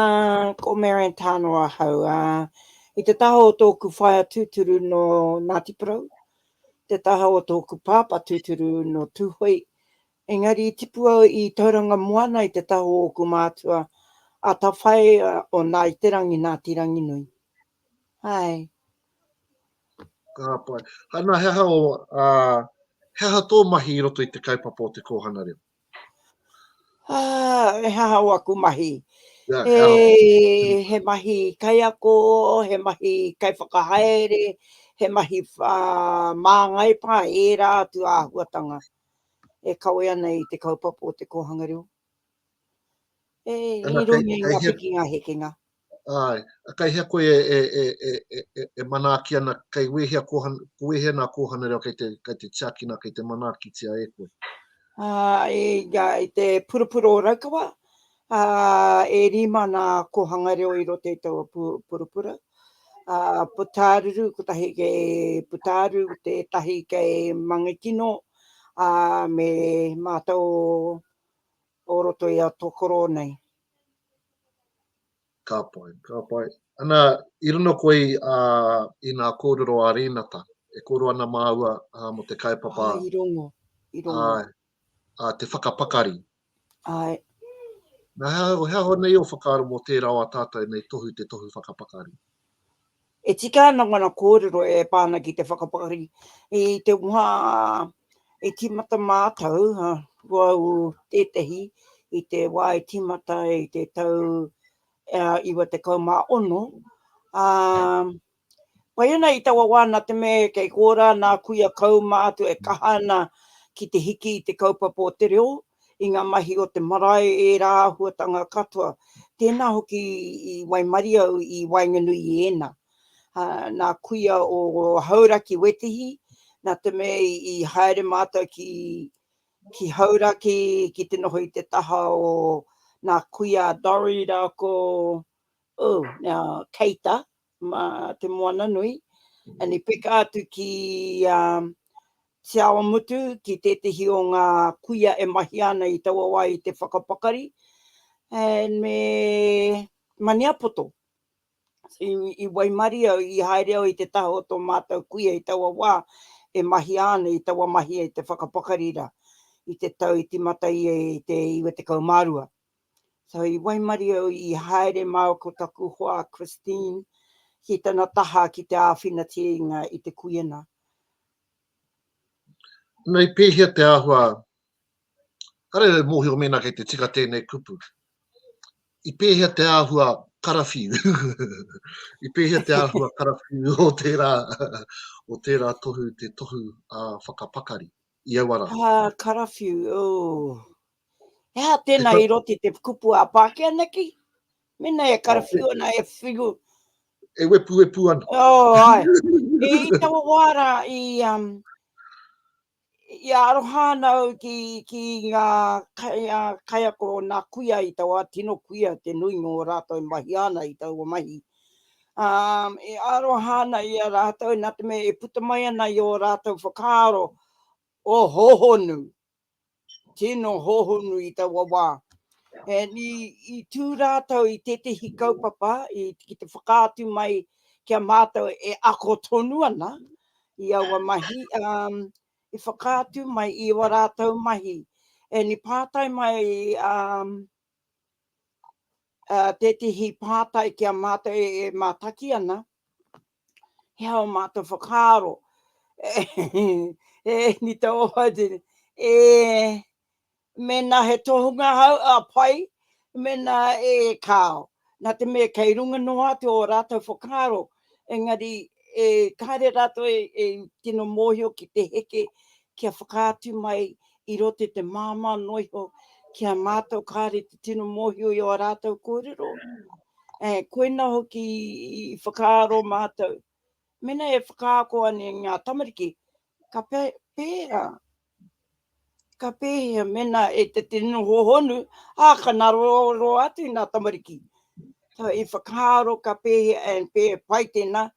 ko Marion Tānoa ahau, ā, i te taha o tōku whaea tūturu nō Ngāti Porou, te taha o tōku pāpā tūturu nō Tūhoe, engari i tipu au i Tauranga Moana i te taha o ōku mātua atawhai o Ngāi Te Rangi, Ngāti Ranginui. Hai. Ka hāpai. Ana, he aha, ā, he aha tō mahi i roto i te kaupapa o te kōhanga reo? Ah, e hahau aku mahi. Yeah, e, yeah. he mahi kaiako, he mahi kai whakahaere, he mahi uh, māngai pā, ērā atu āhuatanga. E kawe ana i te kaupapa o te kōhanga reo. E, i rungi ngā pikinga hekenga. Āe, kei hea koe e manaaki ana, kei wēhea ngā kōhana reo kei te tiakina, kei te manaakitia e koe? Āe, i te purupuru o Raukawa, e rima ngā kōhanga reo i roto i taua purupuru. Putāruru, kotahi kei Putaaru, tētahi kei Mangekino, me mātou o roto i Aotearoa nei. Ka pai, ka pai. Ana, i runa koe i, uh, i nā kōrero a Rīnata, e kōrero ana māua uh, mo te kaipapa. Ai, i rongo, i rongo. Ai, uh, te whakapakari. Ai. Na, hea, hea ho nei o whakaaro mo tērā o a tātou nei tohu te tohu whakapakari. E tika ana ngana kōrero e pā ana ki te whakapakari i te wā e tīmata mātou, ko au tētehi i te wā e tīmata i te tau 96, ā, pai ana i taua wā nā te mea kei kōrā nā kuia kaumātua e kaha ana ki te hiki i te kaupapa o te reo, i ngā mahi o te marae ērā āhuatanga katoa. Tēnā hoki i waimaria au i waenganui i ēnā. Nā kuia o Hauraki wetihi, nā te mea i haere mātou ki ki Hauraki ki te noho i te taha o nā kuia Dorrie rā ko, oh, now, Keita. ma te moana nui and i peka atu ki a Te Awamutu ki tētehi o ngā kuia e mahia ana i taua wā i te whakapakari and me Maniapoto i, i waimarie au, i haere au i te taha o tō mātou kuia i taua wā e mahia ana i taua mahi i te whakapakari rā i te tau i timata ia i te 92. So i waimarie au i haere māu ko taku hoa a Christine ki tana taha ki te āwhina tēina i te kuiana. No i pēhea te āhua, kare au mōhio mēnā kei te tika tēnei kupu. I pēhea te āhua karawhiu, i pēhea te āhua karawhiu o tērā, o tērā tohu, te tohu a whakapakari i aua rā? Ah, karawhiu, oh. He aha tēnā i roti te kupu a Pākehā neki? Mena e karawhiu oh, ana, e whiu. E wepu wepu ana. Oh, ai. e, I tawa wāra i, um, i aroha ana au ki, ki ngā kai, uh, kaiako o nā kuia i tawa, tino kuia te nui ngō rātou mahi ana i tawa mahi. Um, e aroha ana i a rātou, nā te mea e puta mai ana i o rātou whakaaro o hohonu. Tino hohonu i taua wa. And i, i tu ratou i tetehi kaupapa i, ki te whakaatu mai ki a mātou e ako tonu ana i aua mahi, um, i whakaatu mai i wa ratou mahi. And i pātai mai um, uh, tetehi pātai ki a mātou e, e mātaki ana, He aha o mātou whakaaro? e ni te oha tēne. E, mena he tohunga hau a pai, mena e kāo. Nā te mea kei runga noa atu o rātou whakaaro, engari e kāre rātou e, e tino mōhio ki te heke kia whakaatu mai i roto i te māmā noa iho ki a mātou kāre te tino mōhio i o rātou kōrero. E, koina hoki i whakaaro mātou. Mena e whakaako ane ngā tamariki, ka pē, pēra, ka pēhea mena e te tino hohonu, ā, ka naro roa atu i ngā tamariki. So, i whakaaro ka pēhea, and pē, pai tēnā,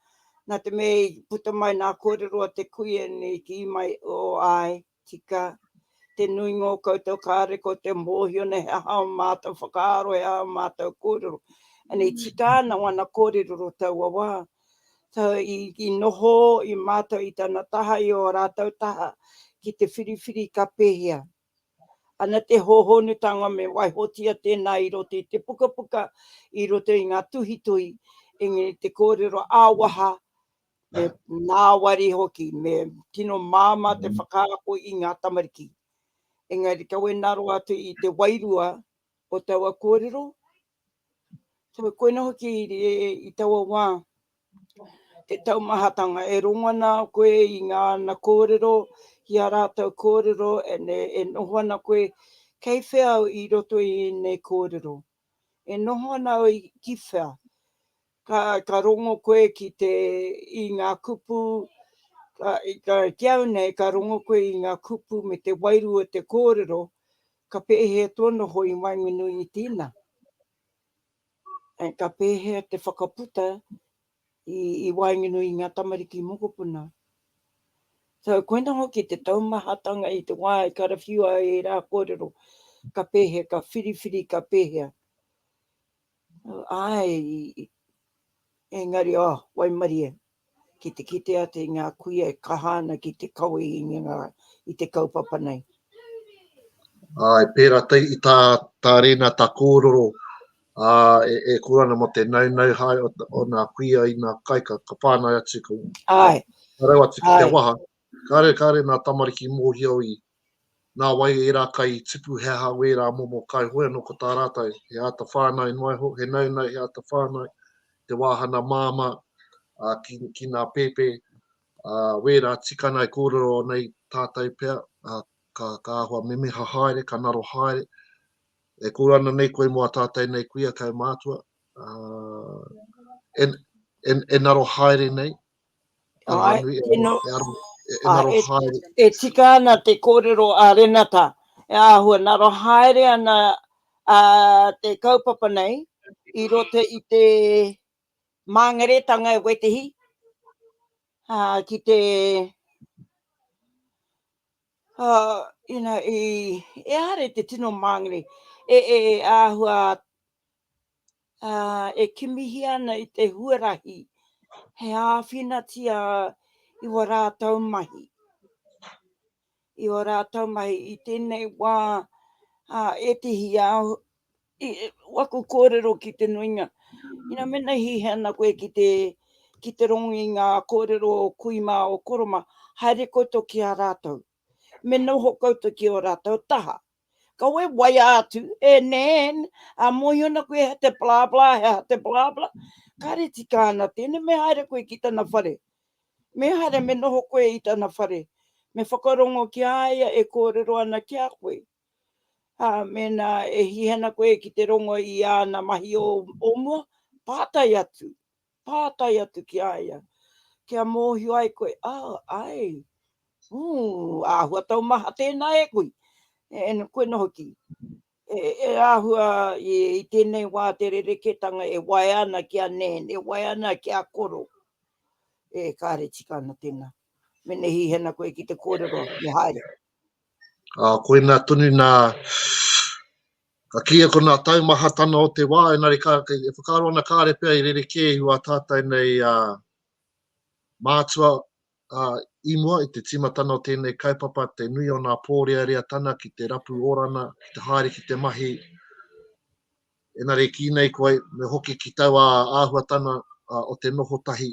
nā te mei puta mai nā kōrero a te kuia nei ki mai o ai. Tika, te nuinga o koutou kāre kau te mōhio nei he aha ō mātou whakaaro, he aha ō mātou kōrero. Anei, tika ana wana kōrero ro taua wā. So, i, i noho i mātou i tana taha, i ō rātou taha, ki te whiriwhiri ka pēhea. Ana te hōhonutanga me waihotia tēnā i roto i te pukapuka, i roto i ngā tuhituhi, engari te kōrero ā-waha me ngāwari hoki, me tino māmā te mm. whakaako i ngā tamariki. Engari kau e naro atu i te wairua o taua kōrero. So, koina hoki e, i taua wā, te taumahatanga e rongo ana koe i ngā ana kōrero, i a rātou kōrero, e, ne, e noho ana koe kei whea i roto i nei kōrero. E noho ana au ki whea. Ka, ka rongo koe ki te, i ngā kupu, ka, ka, ki au nei, ka rongo koe i ngā kupu me te wairua o te kōrero, ka pēhea tō noho i waenganui i tīna? Ā, ka pēhea te whakaputa i, i waenganui i ngā tamariki mokopuna? So, koina hoki te taumahatanga i te wā e karawhiua ai ērā kōrero, ka pēhea, ka whiriwhiri, ka pēhea? Ae, engari, oh, waimarie, ki te kite atu i nga kuia e kaha ana ki te kawe i nga, i te kaupapa nei. Ae, pera ta, i ta, ta rena, ta kororo, a, e, e kore ana mo te naunau hae o, o nga kuia i nga kai, ka, ka whanau atu, ka, Ae. Ka rau atu ki te waha. Kare, kare nga tamariki mohio i, Nā wai ērā kai tipu he aha wērā momo kai hoe anō ko tā rātou he āta whānau noa iho, he naunau, he āta whānau, te wāhana māmā ā, ki, ki ngā pēpē ā, wērā tikana e kōrero ana i tātou pea ā, ka, ka āhua memeha haere, ka ngaro haere. E kōrero ana nei koe mō ā tātou nei kuia kaumātua ā, e, e, e ngaro haere nei. Aranui, e aro, e aro, e, e ngaro haere. E, e tika ana te kōrero a Renata, e āhua ngaro haere ana a te kaupapa nei i roto i te māngeretanga e wetehi a, ki te a, you know, i, e are te tino māngere e, e, e āhua e kimihia ana i te huarahi he āwhinatia i wā rātou mahi, i wā rātou mahi i tēnei wā ētehi āhu, aku kōrero ki te nuinga, ina mena hīhē ana koe ki te, ki te rongo i ngā kōrero o kui mā, o koro mā, haere koutou ki a rātou. me noho koutou ki ō rātou taha. Kaua e waia atu, e nēn, ā, mōhiona koe he aha te blah blah, he aha te blah blah, kāre tika ana tēnei, me haere koe ki tana whare, me haere me noho koe i tana whare, me whakarongo ki a ia e kōrero ana ki a koe. Ā, mēnā e hihana koe ki te rongo i āna mahi o mua, pātai atu. pātai atu ki a ia, kia mōhio ai koe, oh, ai, ooh, āhua taumaha tēnā e koe, and koe noho ki, e āhua i tēnei wā te rerekētanga e waea ana ki a Nan, e waea ana ki a Koro, e kāre tika ana tēnā, mena hīhai ana koe ki te kōrero, me haere. Koina tonu nā, Ka kīia ko nā taumahatanga o te wā, engari ka, e whakaaro ana kāre pea i rerekē i wā tātou nei a mātua a i mua i te tīmatana o tēnei kaupapa, te nui o nā pōreareatanga ki te rapu orana, ki te haere ki te mahi, engari kī nei koe, me hoki ki taua āhuatanga o te noho tahi,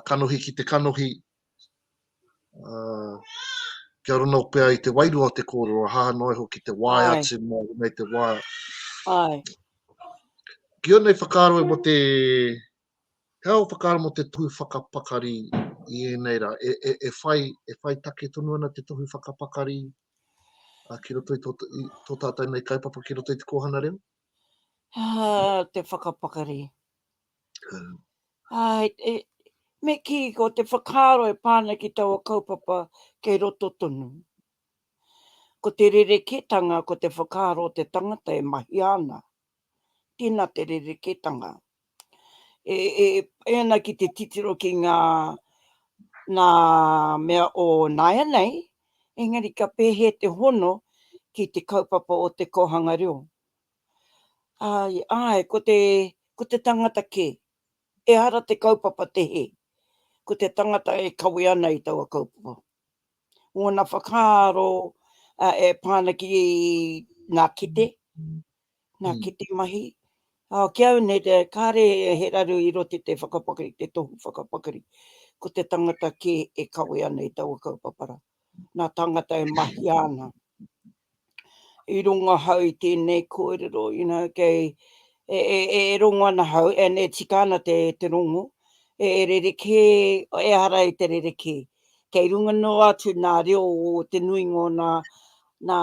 kanohi ki te kanohi, kia rongo pea i te wairua o te kōrero, aha noa iho ki te wae atu mō runga i te wae. Ai. Ki onei whakaaro e mo te, hea o whakaaro mo te tohu whakapakari i enei ra, e, e, e, whai, e whai take tonu ana te tohu whakapakari a, ki roto i tō, i tō tātou nei kaupapa ki roto i te kōhana reo? Uh, te whakapakari. Me kī, ko te whakaaro e pā ana ki taua kaupapa kei roto tonu. Ko te rerekētanga, ko te whakaaro o te tangata e mahia ana. Tēnā te rerekētanga. E pai ana ki te titiro ki ngā mea o nāianei, engari ka pēhea te hono ki te kaupapa o te kōhanga reo. Āe, āe, ko te, ko te tangata kē. Ehara te kaupapa te hē. Ko te tangata e kawe ana i taua kaupapa. Ōna whakaaro e pā ana ki ngā kete, ngā kete mahi. Ki au nei, kāre he raru i roto i te whakapakari, i te tohu whakapakari. Ko te tangata kē e kawe ana i taua kaupapa rā. Nā tāngata e mahia ana. i runga hau i tēnei kōrero, you know, kei, e, e, e, e rongo ana hau, and e tika ana te, te rongo, e, e rerekē, e ara i te rerekē. Kei runga noa atu nā reo o te nuinga o nā, nā,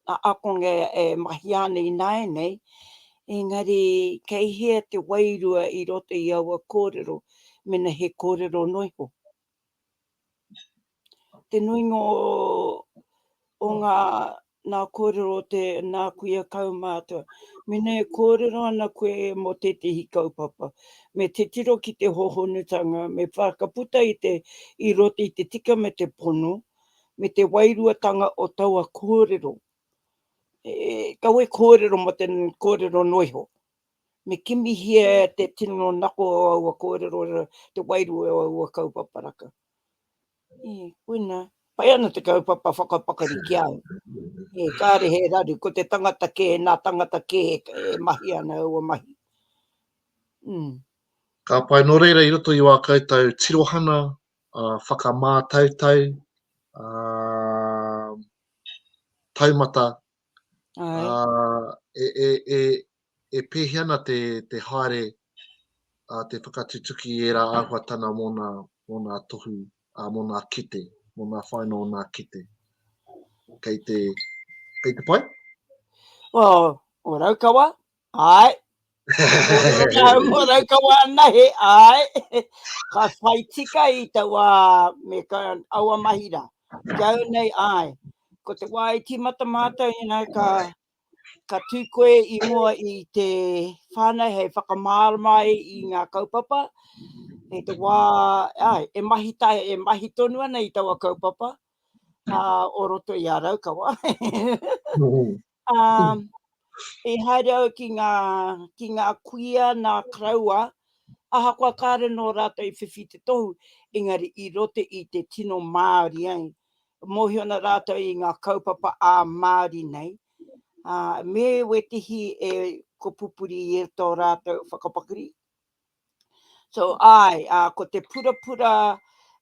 nā akonga e mahi ana ināianei, engari kei hea te wairua i roto i aua kōrero, mena he kōrero noa iho. Te nuinga o ngā nā kōrero te nā kuia kaumātua. Mene kōrero ana koe mō tētehi kaupapa, me titiro ki te hōhonutanga, me whakaputa i te i roto i te tika me te pono, me te wairuatanga o taua kōrero. E, kawe kōrero mō te kōrero noa iho. Me kimihia te tino nako o aua kōrerorero, te wairua o aua kaupapa raka. E, koina, pai ana te kaupapa whakapakari ki au. E, kāre he raru, ko te tangata kē, nā tangata kē e, e mahi ana aua mahi. Mm. Ka pai, nō reira i roto i wā koutou tirohana, uh, whakamātautau, uh, taumata e pēhi ana te haere a te whakatutuki i ērā āhuatanga mō ngā tohu, mō ngā kete, mō ngā whāinga o ngā kete. Kei te pai? Well, o Raukawa, Ae. Kōrero nā ua raukawa anahe, ae. Ka whai tika i taua me ka aua mahi rā. Ki au nei, ae. Ko te wā i tīmata mātou you know, ka ka tū koe i mua i te whānau hei whakamārama ai i ngā kaupapa, e te wā, ai, e mahi tae, e mahi tonu ana i taua kaupapa, ā, o roto i a Raukawa. Ā, i haere au ki ngā, ki ngā kuia nā Karaua, ahakoa kāre nō rātou i whiwhi i te tohu, engari i roto i te tino Māori ai. Mōhio ana rātou i ngā kaupapa ā-Māori nei, ā, me wetihi e, kua pupuri i roto ō rātou whakapakari. So, āe, ā, ko te purapura,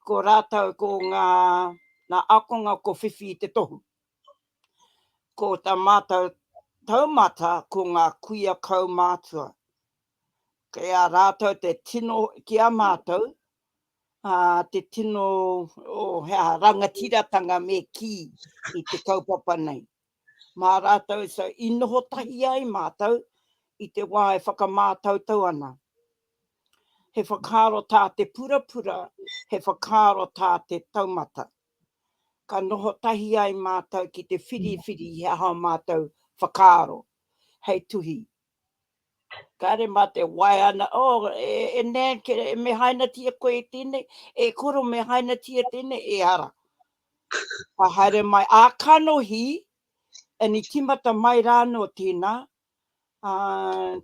ko rātou, ko ngā, ngā ākonga kua whiwhi i te tohu. Ko tā mātou taumata ko ngā kuia kaumātua. Kei a rātou te tino, ki a mātou, ā, te tino, o, he aha, rangatiratanga me kī i te kaupapa nei. Mā rātou, so i noho tahi ai mātou i te wā e whakamātautau ana. He whakaaro tā te purapura, he whakaaro tā te taumata. ka noho tahi ai mātou ki te whiriwhiri he aha o mātou whakaaro hei tuhi. Kāre mā te wae ana, oh, e, e Nan, ke, e me hainatia koe i tēnei, e koro me hainatia tēnei, e ara. Ka haere mai, ā kanohi, and i timata mai rānō tēnā, ā,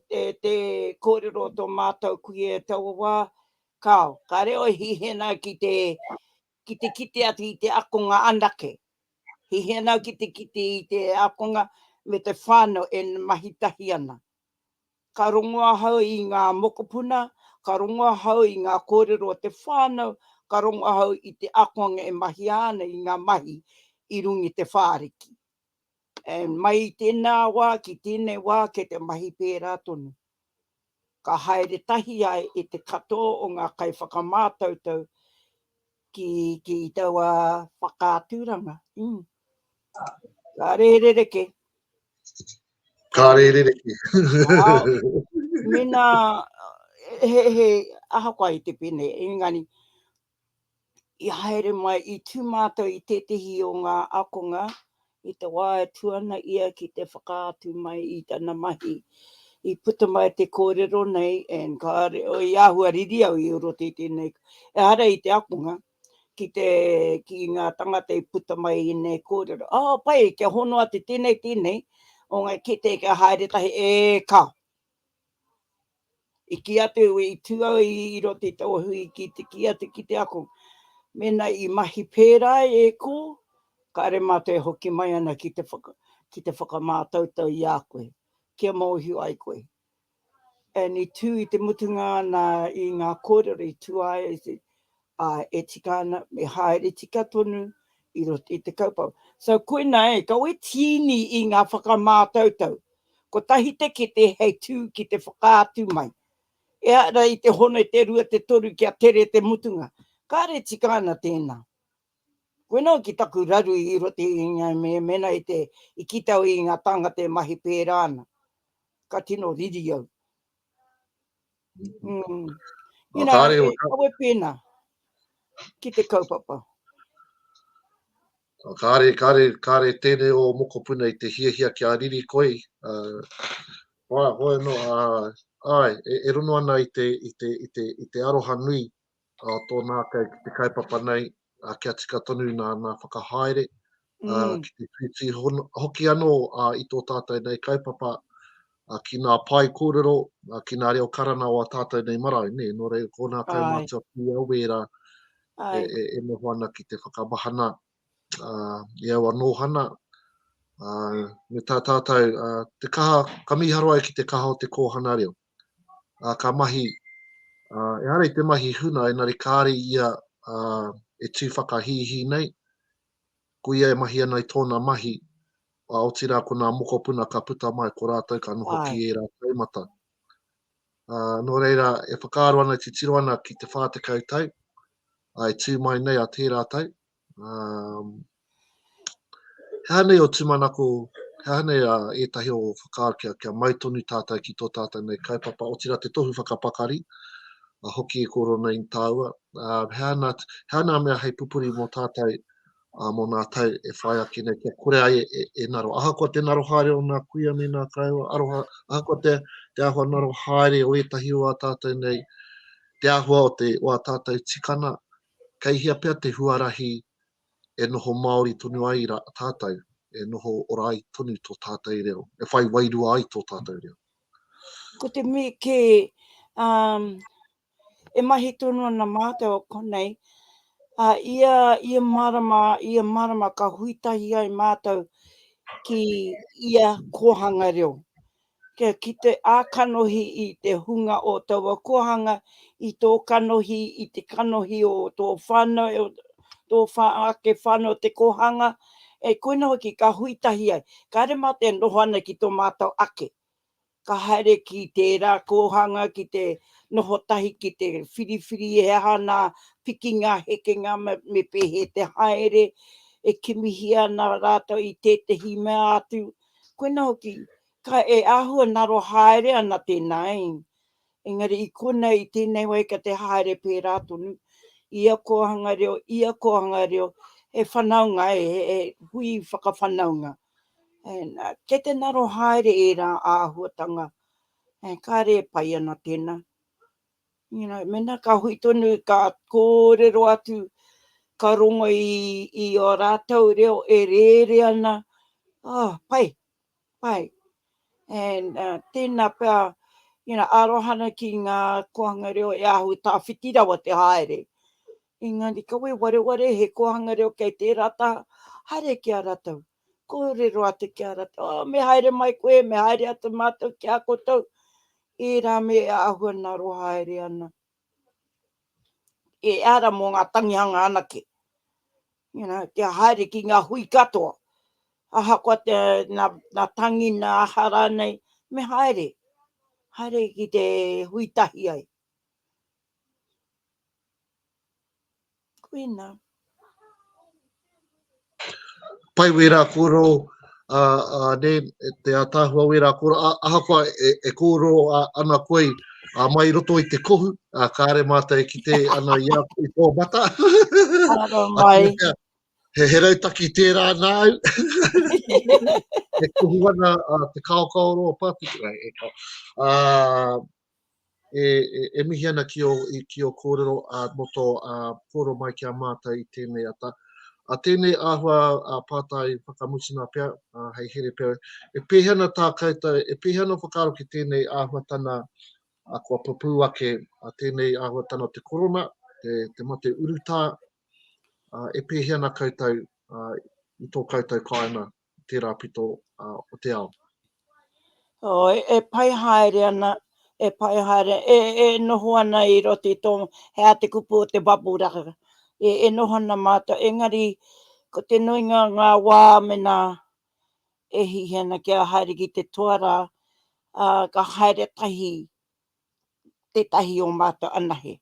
te, te kōrero o tō mātou kuia e taua wā, kāo, kāre o hihena ki te, ki te kite atu i te akonga anake. He hēnau ki te kite i te akonga me te whānau e mahi tahi ana. Ka rongo ahau i ngā mokopuna, ka rongo ahau i ngā kōrero o te whānau, ka rongo ahau i te akonga e mahia ana i ngā mahi i runga i te whāriki. And mai i tēnā wā ki tēnei wā kei te mahi pērā tonu. Ka haere tahi ai e te katoa o ngā kaiwhakamātautau ki, ki taua whakaaturanga. Mm. Ka rērereke. Ka rērereke. Mena, he, he, ahakoa i te pene, engari, i haere mai, i tū mātou i tētehi o ngā ākonga i te wā e tū ana ia ki te whakaatu mai i tana mahi. I puta mai te kōrero nei, and kāre, i āhua riri au i oro i tēnei, ehara i te ākonga, ki te, ki ngā tangata i puta mai i ēnei kōrero, oh pai, kia hono atu tēnei, tēnei, o ngā kete kia haere tahi, e, ka. I kī atu, i tū au i roto i taua hui ki te kī atu ki te ako, mēnā i mahi pērā e kō, kāre mātou e hoki mai ana ki te whaka, ki te whakamātautau i a koe, kia mōhio ai koe. And i tū i te mutunga ana i ngā kōrero i tū ai, Ā, e tika ana, me haere tika tonu i roto i te kaupapa. So, koinā, ka wetiini i ngā whakamātautau. Kotahi te kete hei tū ki te whakaatu mai. Ehara i te hone te rua, te toru kia tere te mutunga. Kāre tika ana tēnā. Koinā ki taku raru i roto i ngā mea mēnā i te, i kite au i ngā tāngata e mahi pērā ana, ka tino riri au. Mm. Ina, kāre o tā. Kawe pēnā ki te kaupapa. Kāre, kāre, kāre tēne o mokopuna i te hiahia ki a riri koi. Uh, wā, hoa no, uh, ai, e, e rono ana i te, i te, i te, i te aroha nui ā, tōna ake ki te kaupapa nei, ā, kia tika tonu nā, nā whakahaere, ā, mm. ki te whiti hoki anō ā, i tō tātou nei kaupapa, ā, ki nā pai kōrero, ā, ki nā reo karana o a tātou nei marae, nē, nō rei, ko nā kaumātua pū au wērā, e, e, e noho ana ki te whakamahana, ā, i aua nōhana, ā, me tā tātou, ā, te kaha, ka miharo ai ki te kaha o te kōhana reo. uh, ka mahi, uh, ehara i te mahi huna, enari kāre ia uh, e tū whakahīhī nei, ko ia e mahi ana i tōna mahi, a oti rā ko nā mokopuna ka puta mai ko rātou ka noho ki ērā taumata. Uh, nō reira, e whakaaro ana, e titiro ana ki te 40 tau, uh, e tū mai nei a tērā tau, He aha nei ō tūmanako, he aha nei ētahi o ō whakaaro kia mau tonu tātou ki tō tātou nei kaupapa, otirā te tohu whakapakari, a hoki e kōrero nei i tāua, he aha ngā mea hei pupuri mō tātou, mō ngā tau e whai ake nei kia kore ai e ngaro. Ahakoa te ngaro haere o ngā kuia me ngā kaiaoa, aroha, ahakoa te āhua ngaro haere o ētahi o ā tātou nei, te āhua o ā tātou tikana, kei hea pea te huarahi e noho Māori tonu ai rā tātou, e noho ora ai tonu tō tātou reo, e whai wairua ai tō tātou reo. Ko te mea kē, um, e mahi tonu ana mātou o konei, a uh, ia, ia marama, ia marama ka huitahi ai mātou ki ia kōhanga reo. Kia kite ā kanohi i te hunga o taua kōhanga, i tō kanohi, i te kanohi o tō whānau, o tō ake whānau o te kōhanga, e koina hoki ka hui tahi ai. Kāre mā te noho ana ki tō mātou ake. Ka haere ki tērā kōhanga ki te noho tahi, ki te whiriwhiri he aha nā pikinga, hekenga me pēhea te haere, e kimihia ana rātou i tētehi mea atu, Koina hoki, ka e āhua ngaro haere ana tēnā i. Engari i konei, i tēnei wā ka te haere pērā tonu. Ia kōhanga reo, ia kōhanga reo, he whanaunga, he hui whakawhanaunga. Kei te ngaro haere ērā āhuatanga, kāre e pai ana tēnā. You know, mena ka hui tonu, ka kōrero atu, ka rongo i, i o rātou reo e rere ana, oh, pai, pai. And uh, tēnā pea, you know, arohana ki ngā kōhanga reo e ahu tāwhiti rawa te haere. Engari, kawe wareware he kōhanga reo kei tērā taha, haere ki a rātou. Kōrero a Te Keara, Oh, me haere mai koe, me haere atu mātou ki a koutou, ērā me āhua nā roa haere ana. E ara mō ngā tangihanga anake, you know, kia haere ki ngā hui katoa, ahakoa te, nā, nā tangi, nā aha rānei, me haere, haere ki te hui tahi ai. Kuina. Pai wera koro a ne te atahua wera koro a ahakoa e koro ana koi a mai roto i te kohu a kare mata e kite ana ia i po mata. Ara mai. He he rau taki tera na au. e kohu ana te kao kao roa pati. E kao. E mihi ana ki ō kōrero mō tō pōro mai ki a mātou i tēnei ata. Tēnei āhua pātai whakamutunga pea, hei here pea, e pēhea ana tā koutou, e pēhea ana ō whakaaro ki tēnei āhuatana kua pupū ake, tēnei āhuatana o te korona, te mate urutā, e pēhea ana koutou i tō koutou kāinga? tērā pito o te ao. Oh, e, e pai haere ana, e pai haere, e, e noho ana i roti tō hea te kupu o te babura. E, e noho ana mātou, engari ko te nuinga ngā wā mena e hihi ana kia haere ki te toa rā, uh, ka haere tahi tētahi o mātou anahe,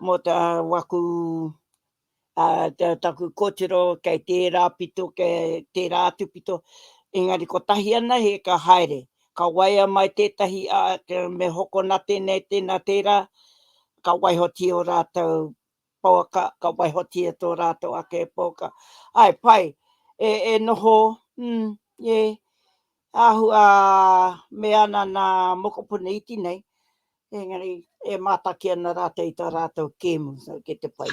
mō tā waku, ā, tā taku kōtiro kei tērā pito, kei tērā atu pito, engari kotahi anahe ka haere, ka waia mai tētahi, ā, me hokona tēnei, tēnā, tērā, ka waihotia ō rātou Pouaka, ka waihotia tō rātou ake e Pouaka. Ae, pai, e, e noho, mm, e, āhua me ana nā mokopuna iti nei, engari e mātaki ana rātou i tā rātou kēmu, so ke te pai.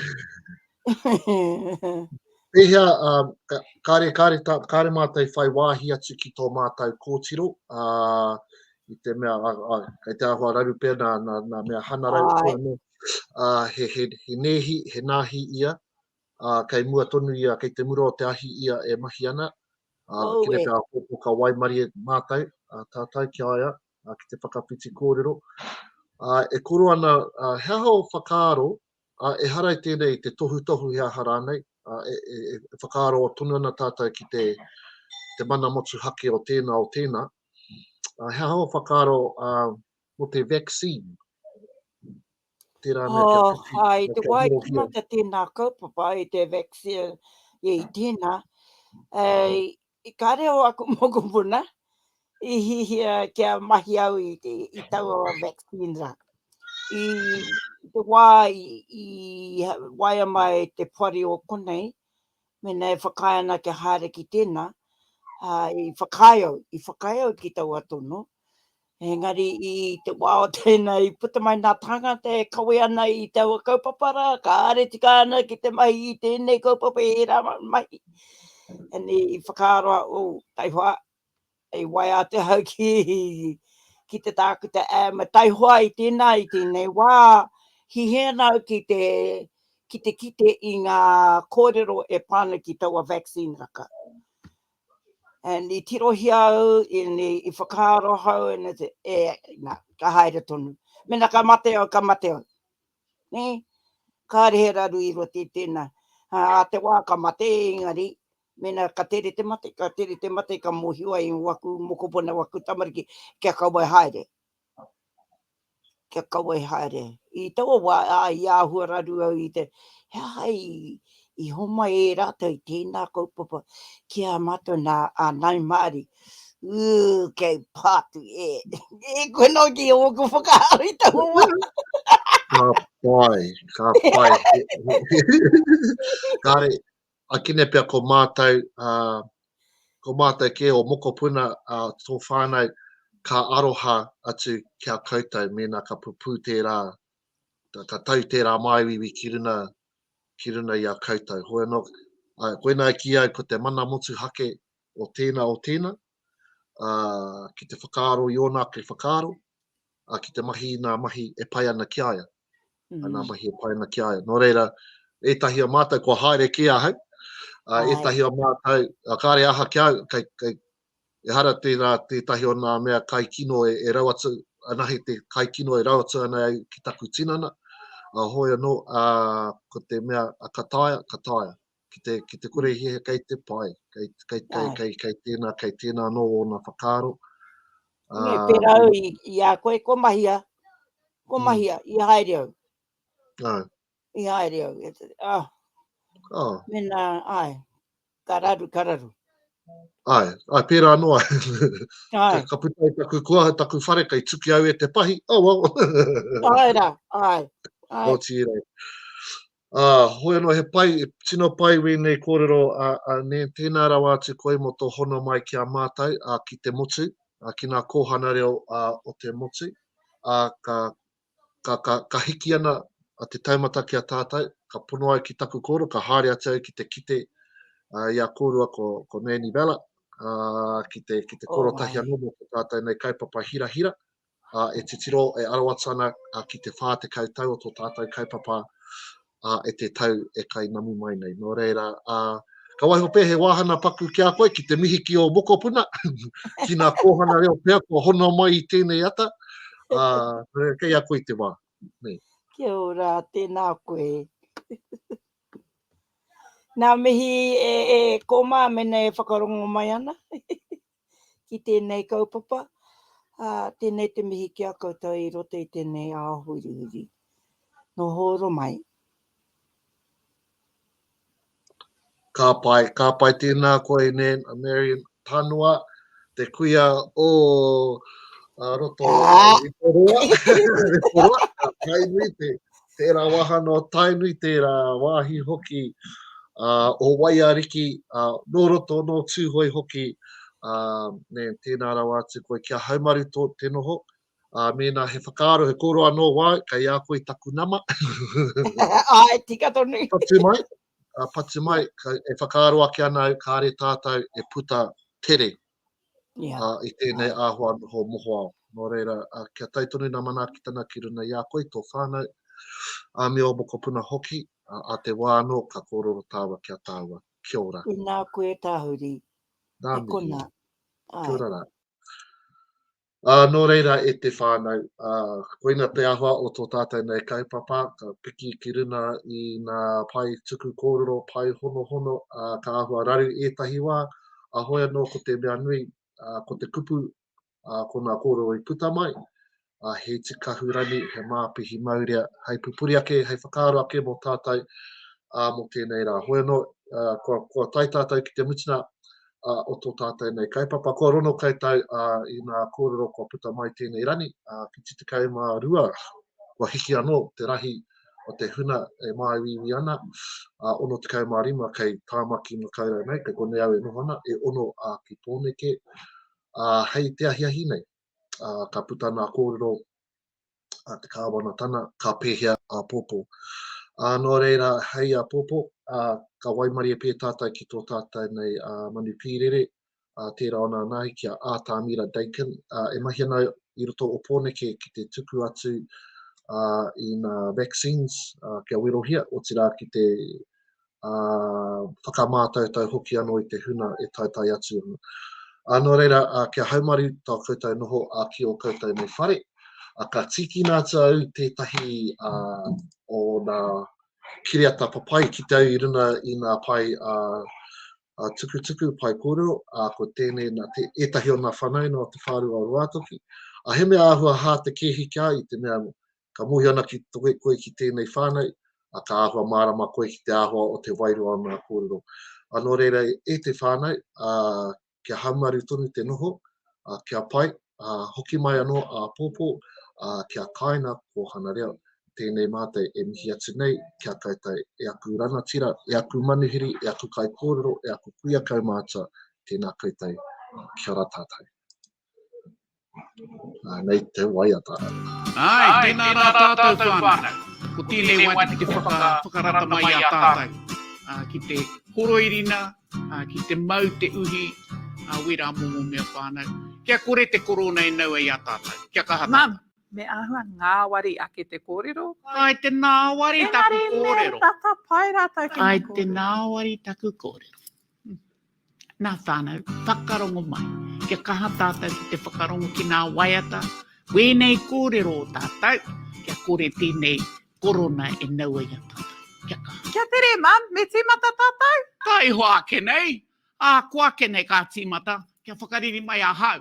Pēhea, uh, ka, kāre, kāre, tā, kāre mātou whai wāhi atu ki tō mātou kōtiro, uh, i te mea, uh, uh, kei te āhua raru pēr nā, nā, nā mea hanarau, Ai. he nēhi, he nāhi ia, kei mua tonu ia, kei te mura o te ahi ia e mahi ana, kere pea apopo ka waimarie mātou, tātou ki a ia, ki te whakawhiti kōrero. E koro ana, he aha o whakaaro, ehara i tēnei i te tohutohu he aha rānei, e whakaaro tonu ana tātou ki te mana motuhake o tēnā, o tēnā, he aha o whakaaro mō te vaccine, tērā mea kia whiwhi. Oh, ai, te wai tīmata tēnā kaupapa i te vaccine i tēnā. Ei, i ka reo aku mokopuna, i hihia kia mahi au i, te, i tau a vaccine ra. I te wā i, i waia mai te whare o konei, Mēnā e whakaae ana kia haere ki tēnā, ā, i whakaae au, i whakaae au ki taua tono, engari i te wā o tēnā i puta mai nā tāngata e kawe ana i taua kaupapa rā, kāre tika ana ki te mahi i tēnei kaupapa i ērā mahi. Anei i whakaaro au, taihoa, I waia te hau ki, ki te tākuta Emma Taihoa i tēnā, i tēnei wā, hihi ana au ki te, ki te kite i ngā kōrero e pā ana ki taua vaccine raka. And i tirohia au, i, i whakaaro hau, and it's, e, nā, ka haere tonu. Mena ka mate au, ka mate au. Nē? Kāre he raru i roti tēnā. Ā, te wā ka mate, engari, Mēnā ka tere te mate, ka tere te mate, ka mōhio ai ō aku mokopuna, ō aku tamariki, kia kaua e haere. Kia kaua e haere. I taua wā, ā, i āhua raru au i te, he aha i, i homai e rātou i tēnā kaupapa ki a mātou nā, a Ngāi Māori. Ū, kei pātu, e. E, koe nō ki ōku whakaaro i taua wā. Ka pai, ka pai. Kāre, I kine pea ko mātou, ko mātou kē o mokopuna tō whānau ka aroha atu ki a koutou mēnā ka pupū tērā, ka tau tērā māuiui ki runa, ki runa i a koutou. Hoi anō, koinā e kī ai ko te mana motuhake o tēnā, o tēnā, ki te whakaaro i ōna ake whakaaro, ki te mahi i ngā mahi e pai ana ki a ia. mm. nā mahi e paina ki a ia. Nō reira, ētahi a mātou kua haere ki a hau, uh, ētahi a mātou, uh, kāre aha ki au, kei, kei, ehara tērā tētahi o nā mea kai kino e, e rau atu, anahe te kai kino e rau atu ana au ki taku tinana, uh, hoi anō, uh, ko te mea a kataia, kataia. ki te, ki te kore hia kei te pai, kei, kei, kei, ah. kei, kei tēnā, kei tēnā anō ōna whakaaro. Uh, Me ah, pera au i, i a koe, ko mahia, ko mm. mahia, i haere au. No. Ah. I haere au. Oh. Oh. Mena, ai, ka raru, ka raru. Ai, ai, pērā noa. Ai. ka puta i taku kua, taku whare, kei tuki au e te pahi. Oh, well. ai rā, ai. ai. Oti rā. Ā, hoi anō, he pai, he tino pai wēnei kōrero, ā, ā, nē, tēnā rawa atu koe mō tō hono mai ki a mātou, ā, ki te motu, ā, ki ngā kōhana reo, ā, o te motu, ā, ka, ka, ka, ka hiki ana a te taumata ki a tātou, ka pono ai ki taku kōrero, ka haere atu au ki te kite, ā, i a kōrua ko, ko Nanny Bella, ā, ki te, ki te kōrero tahi anō mō tō tātou nei kaupapa hirahira, ā, e titiro, e aro atu ana ki te whā tekau tau o tō tātou kaupapa, ā, e te tau e kai namu mai nei. Nō reira, ā, ka waiho pea he wāhana paku ki a koe ki te mihi ki ō mokopuna, ki nā kōhanga reo pea kua hono mai i tēnei ata, ā, kei a koe te wā. Nē. Kia ora, tēnā koe. Nā mihi e, e kōmā mēnā e whakarongo mai ana. ki tēnei kaupapa, ā, tēnei te mihi ki a koutou i roto i tēnei ao hurihuri. Nō Hōro mai. Ka pai, ka pai tēnā koe nē, Marion Tanua, te kuia o uh, Roto i Toroa. Toroa, Tainui, te, Tērā wāhanga o Tainui, tērā wāhi hoki o Waiariki, nō roto, nō Tūhoe hoki, tēnā rawa atu koe kia haumaru tō te noho, mēnā he whakaaro, he kōrero anō wai, kei a koe taku nama. Āe, tika tonu. Patu mai, patu mai, e whakaaro ake ana au, kāre tātou e puta tere, i tēnei āhua noho mohoao. Nō reira, kia tae tonu nā manaakitanga ki runga i a koe, tō whānau, ā, me ō mokopuna hoki, ā, ā te wā anō ka kōrero tāua ki a tāua. Kia ora. Tēnā koe e Tāhuri. Nā mihi. E kona. Kia ora rā. Nō reira e te whānau, koina te ahua o tō tātou nei kaupapa, ka piki ki runa i ngā pae tuku kōrero, pae honohono, ka āhua raru ētahi wā, ahoe anō ko te mea nui, ko te kupu, ko ngā kōrero i puta mai, he tikahu rangi, he māpihi maurea, hei pupuri ake, hei whakaaro ake mō tātou mō tēnei rā. Hoi anō, kua tae tātou ki te mutunga, uh, o tō tātou nei kaupapa. Kua rono koutou uh, i ngā kōrero kua puta mai tēnei rani, uh, ki te tekau mā rua, kua hiki anō te rahi o te huna e māuiui ana, uh, ono tekau mā rima kei Tāmaki Makaurau nei, kei konei au e noho ana, e ono uh, ki Pōneke, uh, hei te ahiahi nei, uh, ka puta nā kōrero a te Kāwanatana, ka pēhea āpōpō. Ā, nō reira, hei āpōpō, ā, ka waimarie pē tātou ki tō tātou nei a Manu Pīrere, ā, tērā ona anahe ki a Ātāmira Dakin, ā, e mahi ana i roto o Pōneke ki te tuku atu ā, i nā vaccines ā, kia werohia, otirā ki te ā, whakamātautau hoki anō i te huna e taetae atu ana. Ā, nō reira, ā, kia haumaru tō koutou noho ā ki ō koutou nei whare, ā, ka tīkina atu au tētahi ā, o nā kiriata papai ki te au i runga i nā pae ā, ā, tukutuku, pae kōrero, ā, ko tēnei nā te, ētahi o nā whānau nō te whārua o Ruātoki, ā, he mea āhua hā te kēhi ki a au i te mea Ka muhi ana ki koe ki tēnei whānau, a ka āhua mārama koe ki te āhua o te wairua o ngā kōrero. A nō reira e te whānau, a, kia haumaru tonu te noho, a, kia pai, a, hoki mai anō āpōpō, a, kia kāina ko Hana Reo. Tēnei mātou e mihi atu nei ki a koutou e aku rangatira, e aku manuhiri, e aku kaikōrero, e aku kuia kaumātua, tēnā koutou, kia ora tātou. Nei te waiata. Ai, tēnā rā tātou whānau. Ko tēnei waiata te whakarata mai a tātou ki te koroirina, ki te mau te uhi a wērā momo mea whānau. Kia kore te korōna e nau ai a tātou. Kia kaha tātou. Mum, me āhua ngāwari ake te kōrero. Ai, te nāwari taku kōrero. Engari me tata pai rātou ki ngā kōrero. Ai, te nāwari taku kōrero. Nā whānau, whakarongo mai. Kia kaha tātou ki te whakarongo ki nā waiata, wēnei kōrero o tātou, kia kore tēnei korona e nau ai a tātou. Kia kaha. Kia tere, Mum, me tīmata tātou? Taihoa ake nei, ā, kua ake nei ka tīmata, kia whakariri mai ahau.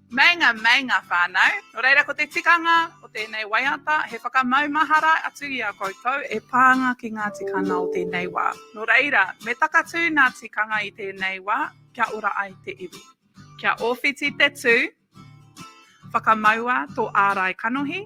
Meinga, meinga whānau. Nō reira ko te tikanga o tēnei waiata he whakamaumahara atu i a koutou e pānga ki ngā tikanga o tēnei wā. Nō reira, me takatū ngā tikanga i tēnei wā kia ora ai te iwi. Kia ōwhiti te tū, whakamaua tō ārai kanohi,